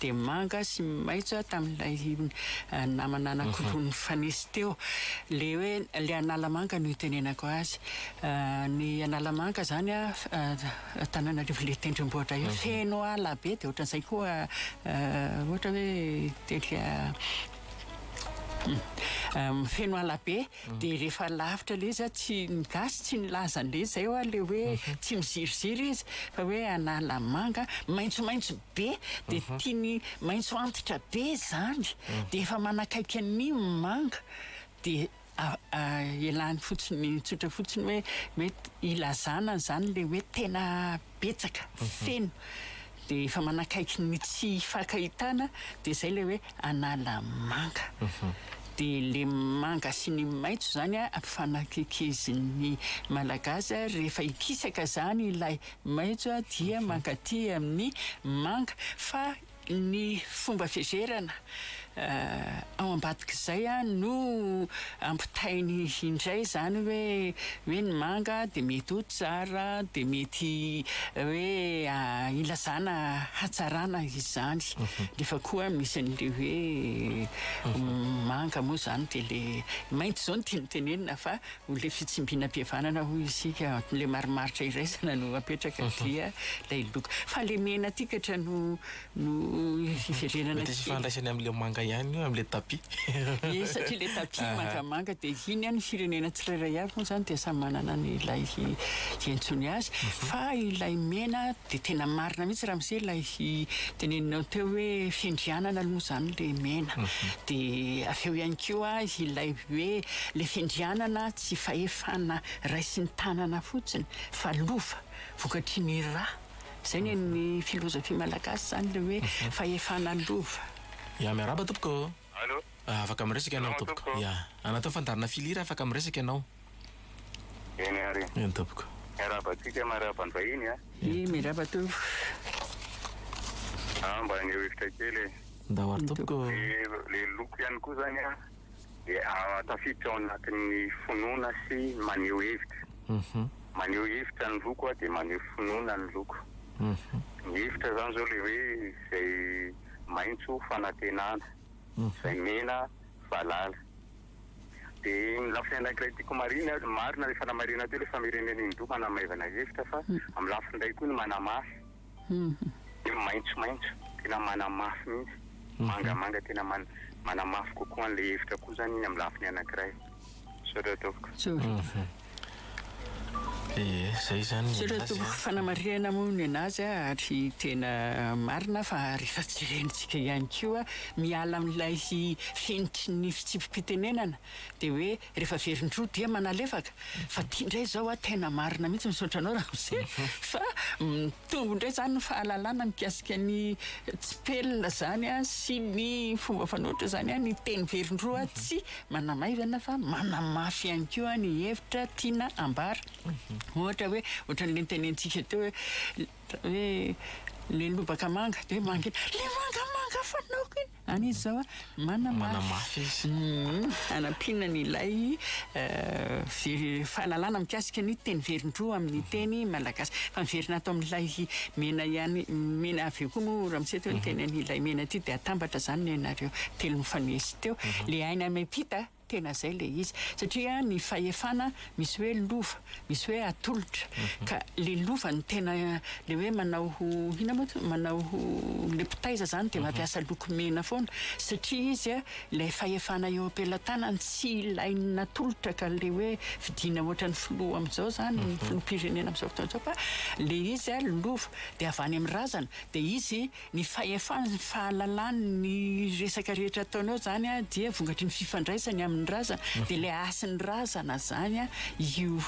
dia manga sy maitso tamin'ilay namana anankiroa nifanesy teo. Ilay hoe ilay Analamanga no itenenako azy. Ny Analamanga izany Antananarivo ilay tendrombohitra io feno ala be dia ohatran'izay koa ohatra hoe tetika feno ala be. Dia rehefa lavitra ilay izy an, tsy, ny gasy tsy nilaza an'ilay izy izay ho'a ilay hoe tsy miziriziry izy fa hoe analamanga maitsomaitso be dia tiany maitso antitra be izany dia efa manakaiky an'ny manga dia a, ialany fotsiny tsotra fotsiny hoe hoe ilazana an'izany ilay hoe tena betsaka, feno, dia efa manakaiky ny tsy hifankahitana, dia izay ilay hoe Analamanga. Dia ilay manga sy ny maitso izany ampifanakaikizin'ny Malagasy, rehefa hikisaka izany ilay maitso dia mankaty amin'ny manga, fa Ny fomba fizerana ao ambadik'izay no ampitainy indray izany hoe hoe ny manga dia mety ho tsara, dia mety hoe ilazana hatsarana izany. Nefa koa misy an'ilay hoe manga moa izany dia ilay maitso izao no tiany tenenina fa Ho ilay fitsimbinam-pihavanana hoy isika, ilay marimaritra iraisana no apetraka dia ilay loko. Fa ilay mena ity katra no no hiverenana kely. Mety hisy ifandraisany amin'ilay manga ihany io, amin'ilay tapis. Ie, satria ilay tapis mangamanga dia iny ihany ny firenena tsirairay avy moa izany dia samy manana ny ilay hiantsoany azy. Fa ilay mena dia tena marina mihitsy ramose ilay teneninao teo hoe fiandrianana aloha izany ilay mena. Dia avy eo ihany koa ilay hoe. le fiandrianana tsy fahefana raisin tanana fotsiny fa lova vokatry ny ra zay ny ny filozofia malagasy zany le hoe fahefana lova. Ya miarahaba tompoko oh. Allo. Afaka miresaka ianao tompoko. Ya. Anatao fandaharana filière afaka miresaka ianao. Eny ary. Eny tompoko. Miarahaba antsika miarahaba ny vahiny a. Ye miarahaba tompoko. Mba aneho hevitra kely e. Ndao ary tompoko. Le loko ihany koa zany a. dia tafiditra ao anatin'ny finoana sy maneho hevitra. Maneho hevitra ny loko a, dia maneho finoana ny loko. Ny hevitra izany izao ilay hoe izay maitso fanantenana, izay mena valala. Dia ny lafiny anankiray tiako homarihina, marina ilay fanamarihana teo hoe famerenana indroa manamaivana hevitra, fa amin'ny lafiny iray koa ny manamafy. dia maitsomaitso tena manamafy mihitsy, mangamanga tena manamafy kokoa an'ilay hevitra koa izany iny amin'ny lafiny anankiray. Misaotra tompoko. Misaotra tompoko fanamarihana moa ny an'azy ary tena marina fa rehefa jerentsika ihany koa miala amin'ilay fenitry ny fitsipi-pitenenana dia hoe Rehefa very ny roa dia manalefaka fa ty ndray zao a tena marina mihitsy misaotra anao ramose fa mitombo ndray zany ny fahalalana mikasika ny tsipelina zany a sy ny fomba fanohitra zany a ny teny very ny roa tsy manamaivana fa manamafy ihany koa ny hevitra tiana ambara ohatra hoe ohatran'ny lentenentsika teo hoe hoe le lobaka manga de mangina le manga manga fanaoko iny Any izy zao a, manamafy izy. Hanampiana an'ilay fahalalana mikasika ny teny velondroa amin'ny teny malagasy. Fa miverina ato amin'ilay mena ihany, mena avy eo koa moa ramose teo ny teny an'ilay mena ity dia atambatra izany ny anareo telo nifanesy teo. Ilay aina miampita. Tena zay le izy satria ny fahefana misy hoe lova misy hoe atolotra ka le lova no tena le hoe manao ho ina moa ty manao ho le mpitaiza zany de mampiasa loko mena foana satria izy a ilay fahefana eo am-pelatanany tsy ilain'ny natolotra ka le hoe fidiana ohatran'ny filoha amizao zany ny filoham-pirenena amizao fotoana izao fa le izy a lova de avy any amin'ny razana de izy Ny fahefany sy ny fahalalany ny resaka rehetra ataonao zany an dia vokatry ny fifandraisany aminy razana dia ilay hasin'ny razana zany an io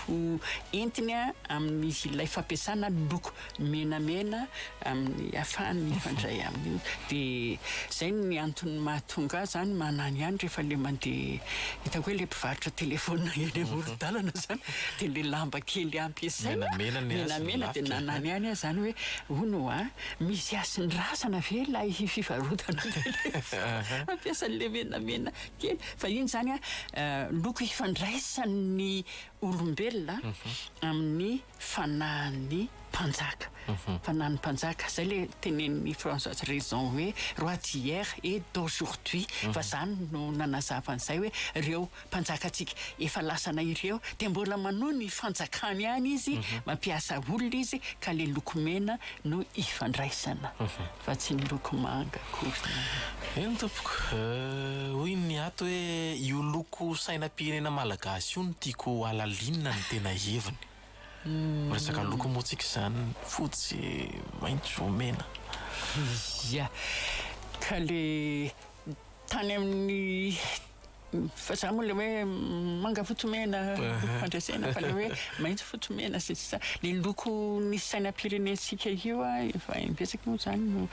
entiny an amin'ilay fampiasana loko menamena amin'ny hafahany mifandray aminy io dia zay ny antony mahatonga ahy zany manany ihany rehefa ilay mandeha hitako hoe ilay mpivarotra telephone eny amoron-dalana zany dia ilay lamba kely ampiasaina menamena dia nanany ihany aho zany hoe hono an. Misy hasiny razana ve ilay fivarotana an'ilay rehefa mampiasa an'ilay menamena kely? Fahiny izany an, loko ifandraisan'ny olombelona amin'ny fanahin'ny mpanjaka. Fanahin'ny mpanjaka. Izay ilay tenenin'i Françoise Raison hoe, roi d'hier et d'aujourd'hui. Fa izany no nanazava an'izay hoe, ireo mpanjakantsika efa lasanay ireo dia mbola manohy ny fanjakany any izy mampiasa olona izy ka le loko mena no ifandraisana fa tsy ny loko manga akory eny tompoko hoy ny ato hoe io loko sainam-pirenena malagasy io no tiako halalinina ny tena heviny miresaka loko moa tsika izany fotsy maitso mena ia ka le tany amin'ny Fa za moa le hoe manga fotsy mena fandresena fa le hoe maitso fotsy mena sy sisa le loko ny sainam-pirenentsika io a efa imbetsaka moa zany no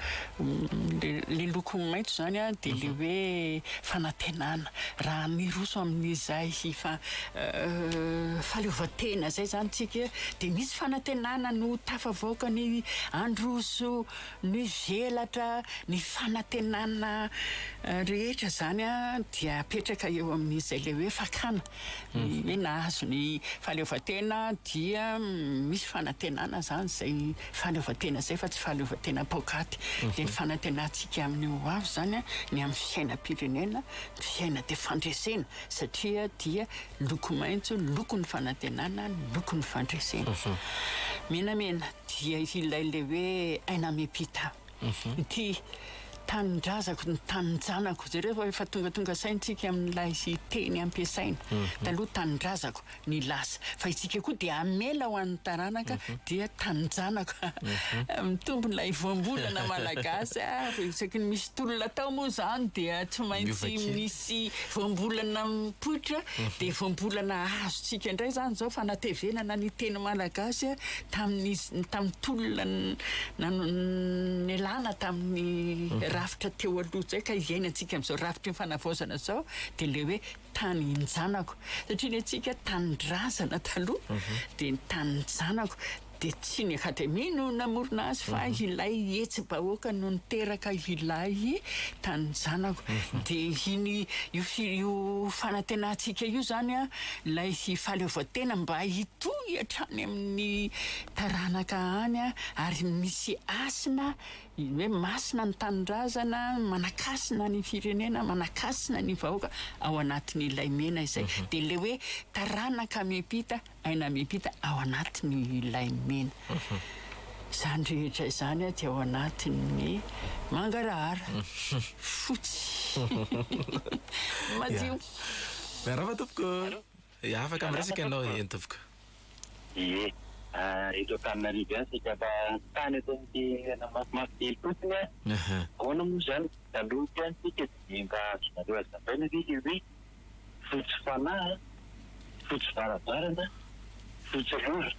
le loko maitso zany a de le mhm. hoe fanantenana raha miroso amin'izay fa euh, faleovantena zay zany tsika de misy fanantenana no tafavoaka ny androso Mivelatra ny fanantenana rehetra izany dia apetraka eo amin'izay ilay hoe fakana ny hoe nahazo ny fahaleovantena dia misy fanantenana izany izay fahaleovantena izay fa tsy fahaleovantena paokaty dia ny fanantenantsika amin'ny ho avy izany ny amin'ny fiainam-pirenena ny fiaina dia fandresena satria dia loko maitso lokon'ny fanantenana lokon'ny fandresena menamena dia ilay le hoe aina amim-pita ity tanindrazako ny taninjanako zay rehefa efa tonga tonga saintsika amin'ilay sy teny ampiasaina taloha tanindrazako ny lasa fa itsika koa dia amela ho an'ny taranaka dia taninjanako mitombo ilay voambolana malagasy ary isaky ny misy tolona tao moa zany dia tsy maintsy misy voambolana mipoitra dia voambolana azotsika indray zany zao fanatevenana ny teny malagasy Tamin'ny tamin'ny tolona nialana tamin'ny rafitra teo aloha izay ka iainantsika amin'izao rafitry ny fanavaozana izao dia ilay hoe tany in-janako. Satria ny antsika tanindrazana taloha dia ny tanin-janako. Dia tsy ny Akademia no namorona azy fa ilay hetsi-bahoaka no niteraka ilay tanin-janako. Dia iny io fanantenantsika io izany ilay fahaleovantena mba Toy hatrany amin'ny taranaka any ary misy hasina hoe masina ny tanindrazana, manakasina ny firenena, manakasina ny vahoaka ao anatin'ny lay mena izay. Dia ilay hoe taranaka miampita, aina miampita ao anatin'ny lay mena. Izany rehetra izany dia ao anatin'ny mangarahara, fotsy, madio. Miarahaba tompoko. Ee, afaka miresaka ianao ee, Ntovoko. Ee, eto Antananarivo ihany isika fa ny tany eto amin'ity toerana mafimafy kely fotsiny an! Ahoana moa izany? Taloha ity an isika dia ny mba azonareo hazavaina ve ilay hoe fotsy fanahy an, fotsy varavarana, fotsy rora?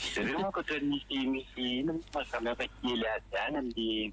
Izy ireo manko ohatran'ny misy misy inona moa no maha samihafa kely azy ihany amin'ny.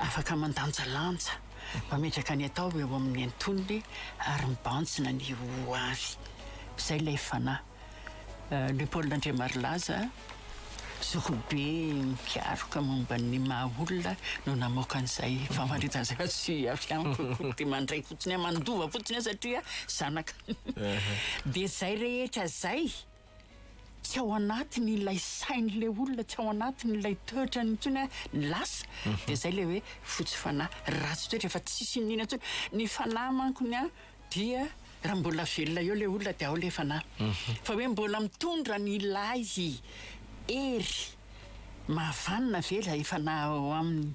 Afaka mandanjalanja, mametraka ny atao eo amin'ny antonony ary mibanjina ny ho avy. Izay ilay fanahy. Le Paul Andriamarilaza, zokibe mikaroka momba ny maha olona no namoaka an'izay famaritana izay fa tsy avy amiko akory dia mandray fotsiny aho, mandova fotsiny aho satria zanaka. Dia izay rehetra izay. tsy ao anatiny ilay sain'ilay olona, tsy ao anatiny ilay toetrany intsony a, ny lasa, dia izay ilay hoe fotsy fanahy, ratsy toetra, efa tsisy iniana intsony. Ny fanahy mankony a, dia raha mbola velona eo ilay olona dia ao ilay fanahy. Fa hoe mbola mitondra an'ilay hery mahavanona ve ilay fanahy ao aminy?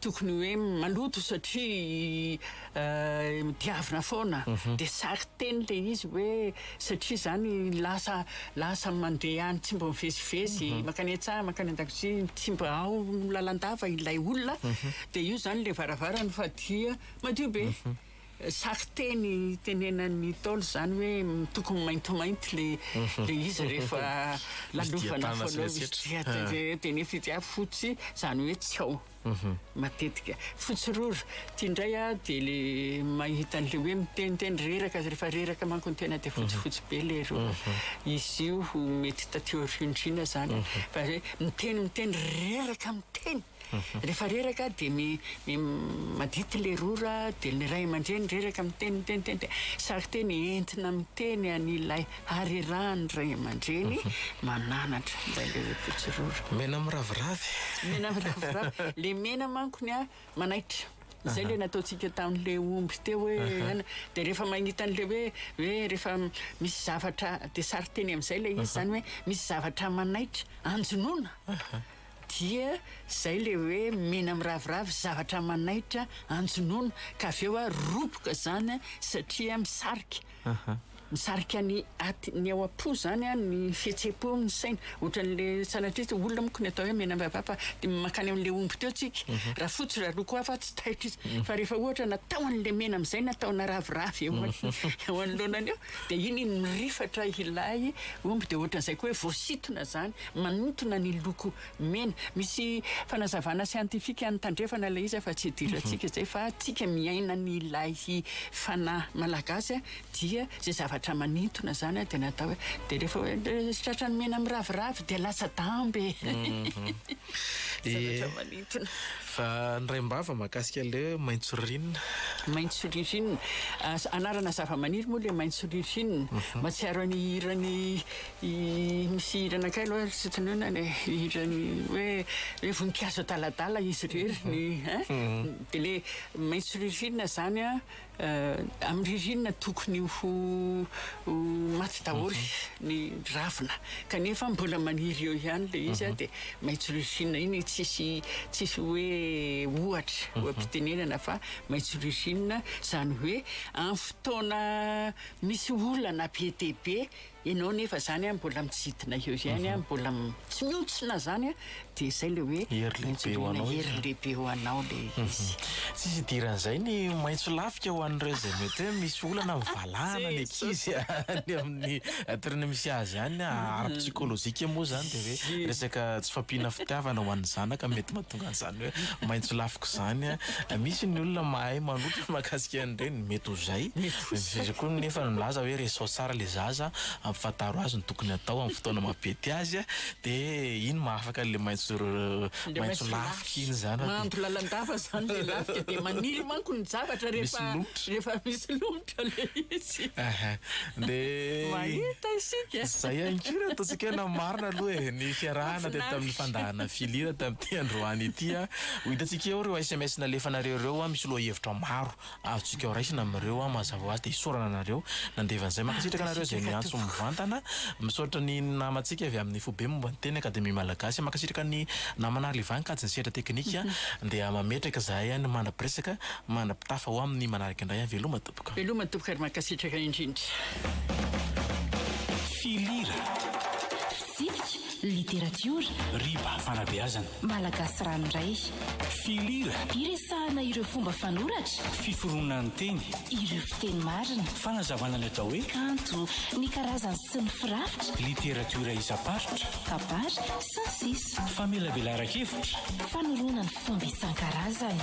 Tokony hoe maloto satria diavina foana dia sary teny ilay izy hoe satria izany lasa lasa mandeha any tsy mba mivezivezy mankany an-tsaha mankany an-dakozia tsy mba ao lalandava ilay olona dia io izany ilay varavarana fa dia madio be Saky teny tenenan'ny Ntaolo izany hoe tokony maintimainty le le izy rehefa lalofana foana misy dia tena dia nefa izy dia fotsy izany hoe tsy ao matetika. Fotsy rora. Ity indray aho dia le mahita an'ilay hoe miteniteny reraka rehefa reraka manko ny tena dia fotsifotsy be le rora. Izy io mety taty aoriandriana izany fa hoe miteny miteny reraka miteny. Rehefa reraka dia mi mi madity le rora dia ny ray aman-dreny reraka miteny miteny teny dia sarinteny entina miteny an'ilay harerahan'ny ray aman-dreny mananatra ilay le pitsy rora. Mena miraviravy. Mena miraviravy. Le mena manko ny a manaitra. Izay le nataontsika tamin'le omby teo hoe aina. Dia rehefa mahita an'le hoe hoe rehefa misy zavatra dia sarinteny amin'izay ilay izy izany hoe misy zavatra manaitra anjonoana. Dia izay ilay hoe mena miraviravy zavatra manaitra anjonoana ka avy eo ary roboka izany satria misarika. Misarika ny aty, ny ao am-po izany ny fihetseham-po, ny saina. Ohatran'ilay sanatria tsy olona manko ny atao hoe mena miraviravy fa dia mankany amin'ilay omby teo tsika. Raha fotsy raha loko hafa tsy taitra izy. Fa rehefa ohatra natao an'ilay mena amin'izay na ataona raviravy eo anoloanany eo dia iny iny mirifatra ilay omby dia ohatran'izay koa hoe voasintona izany. Manintona ny loko mena. Misy fanazavana siantifika any tandrefana ilay izy fa tsy idirantsika izay fa tsika miaina an'ilay fanahy malagasy dia izay zavatra manintona izany dia natao hoe dia rehefa hoe ilay tratran'ny mena miraviravy dia latsa-damba e! Zavatra manintona. Fa ny raim-bava mahakasika an'ilay hoe maitso ririnina? Maitso ririnina. Anarana zavamaniry moa ilay maitso ririnina. Mahatsiaro an'ny hiran'i Misy hira anakay aloha ry tsy tononana e, hira ny hoe hoe voninkazo adaladala izy irery ny eh? Mhm. de le maitso ririnina zany a eh, amin'ny ririnina tokony ho ho maty daholo mhm. ny ravina kanefa mbola maniry eo ihany le izy a mhm. de maitso ririnina iny tsisy tsisy hoe ohatra oampitenenana fa maitso ririnina zany hoe amin'ny fotoana misy olana be dia be Ianao nefa zany an mbola mitsidina eo ihany an, mbola tsy mihontsona zany an, dia zay le hoe Hery lehibe ho anao izy. Hery lehibe ho anao le izy. Tsy hidiran'izay ny maitso lafika ho an'ireo izay mety hoe misy olana amin'ny valahana ny ankizy any amin'ny toerana misy azy any. Ara-psikolojika moa izany dia hoe resaka tsy fampiana fitiavana ho an'ny zanaka mety mahatonga. An zany hoe maintso lafiko zany an! Misy ny olona mahay manotrona mahakasika an ireny, mety ho zay. Zay koa nefa no milaza hoe resaho tsara ilay zaza, ampifantaro azy ny tokony atao amin'ny fotoana maha pety azy an! Dia iny mahafaka an'ilay maintso maintso lafiko iny zany. Mahandro lalandava zany ilay lafika dia maniry manko ny zavatra rehefa rehefa misy lomotra. Ka le izy. Ehe. Dia. Mahita isika e. Izay ihany koa no ataontsika hoe na marina aloha e, ny fiarahana teto tamin'ny fandahana filira tamin'ity androany ity an. Ho hitantsika eo ireo sms nalefanareo ireo an, misy lohahevitra maro azontsika ho raisina amin'ireo an, mazava ho azy dia isaorana anareo nandeha an'izay. Mankasitraka anareo izay miantso mivantana. Misaotra ny namantsika avy amin'ny Foibe momba ny Teny Akademia Malagasy. Mankasitraka ny namana Arliva nikajy ny sehatra teknika. Dia mametraka izahay an, mandra-piresaka Mandra-pitafa ho amin'ny manaraka indray aho veloma tompoko. Veloma tompoko ary mankasitraka indrindra. Filira. Fitsipika, literatiora. Riba, fanabeazana. Malagasy ranoray. Filira. Iresahana ireo fomba fanoratra. Fiforonan'ny teny. Ireo fiteny marina. Fanazavana ny atao hoe. Kanto, ny karazany sy ny firafitra. Literatiora isam-paritra. Kabary, sy ny sisa. Famelabelaran-kevitra. Fanorona ny fomba isan-karazany.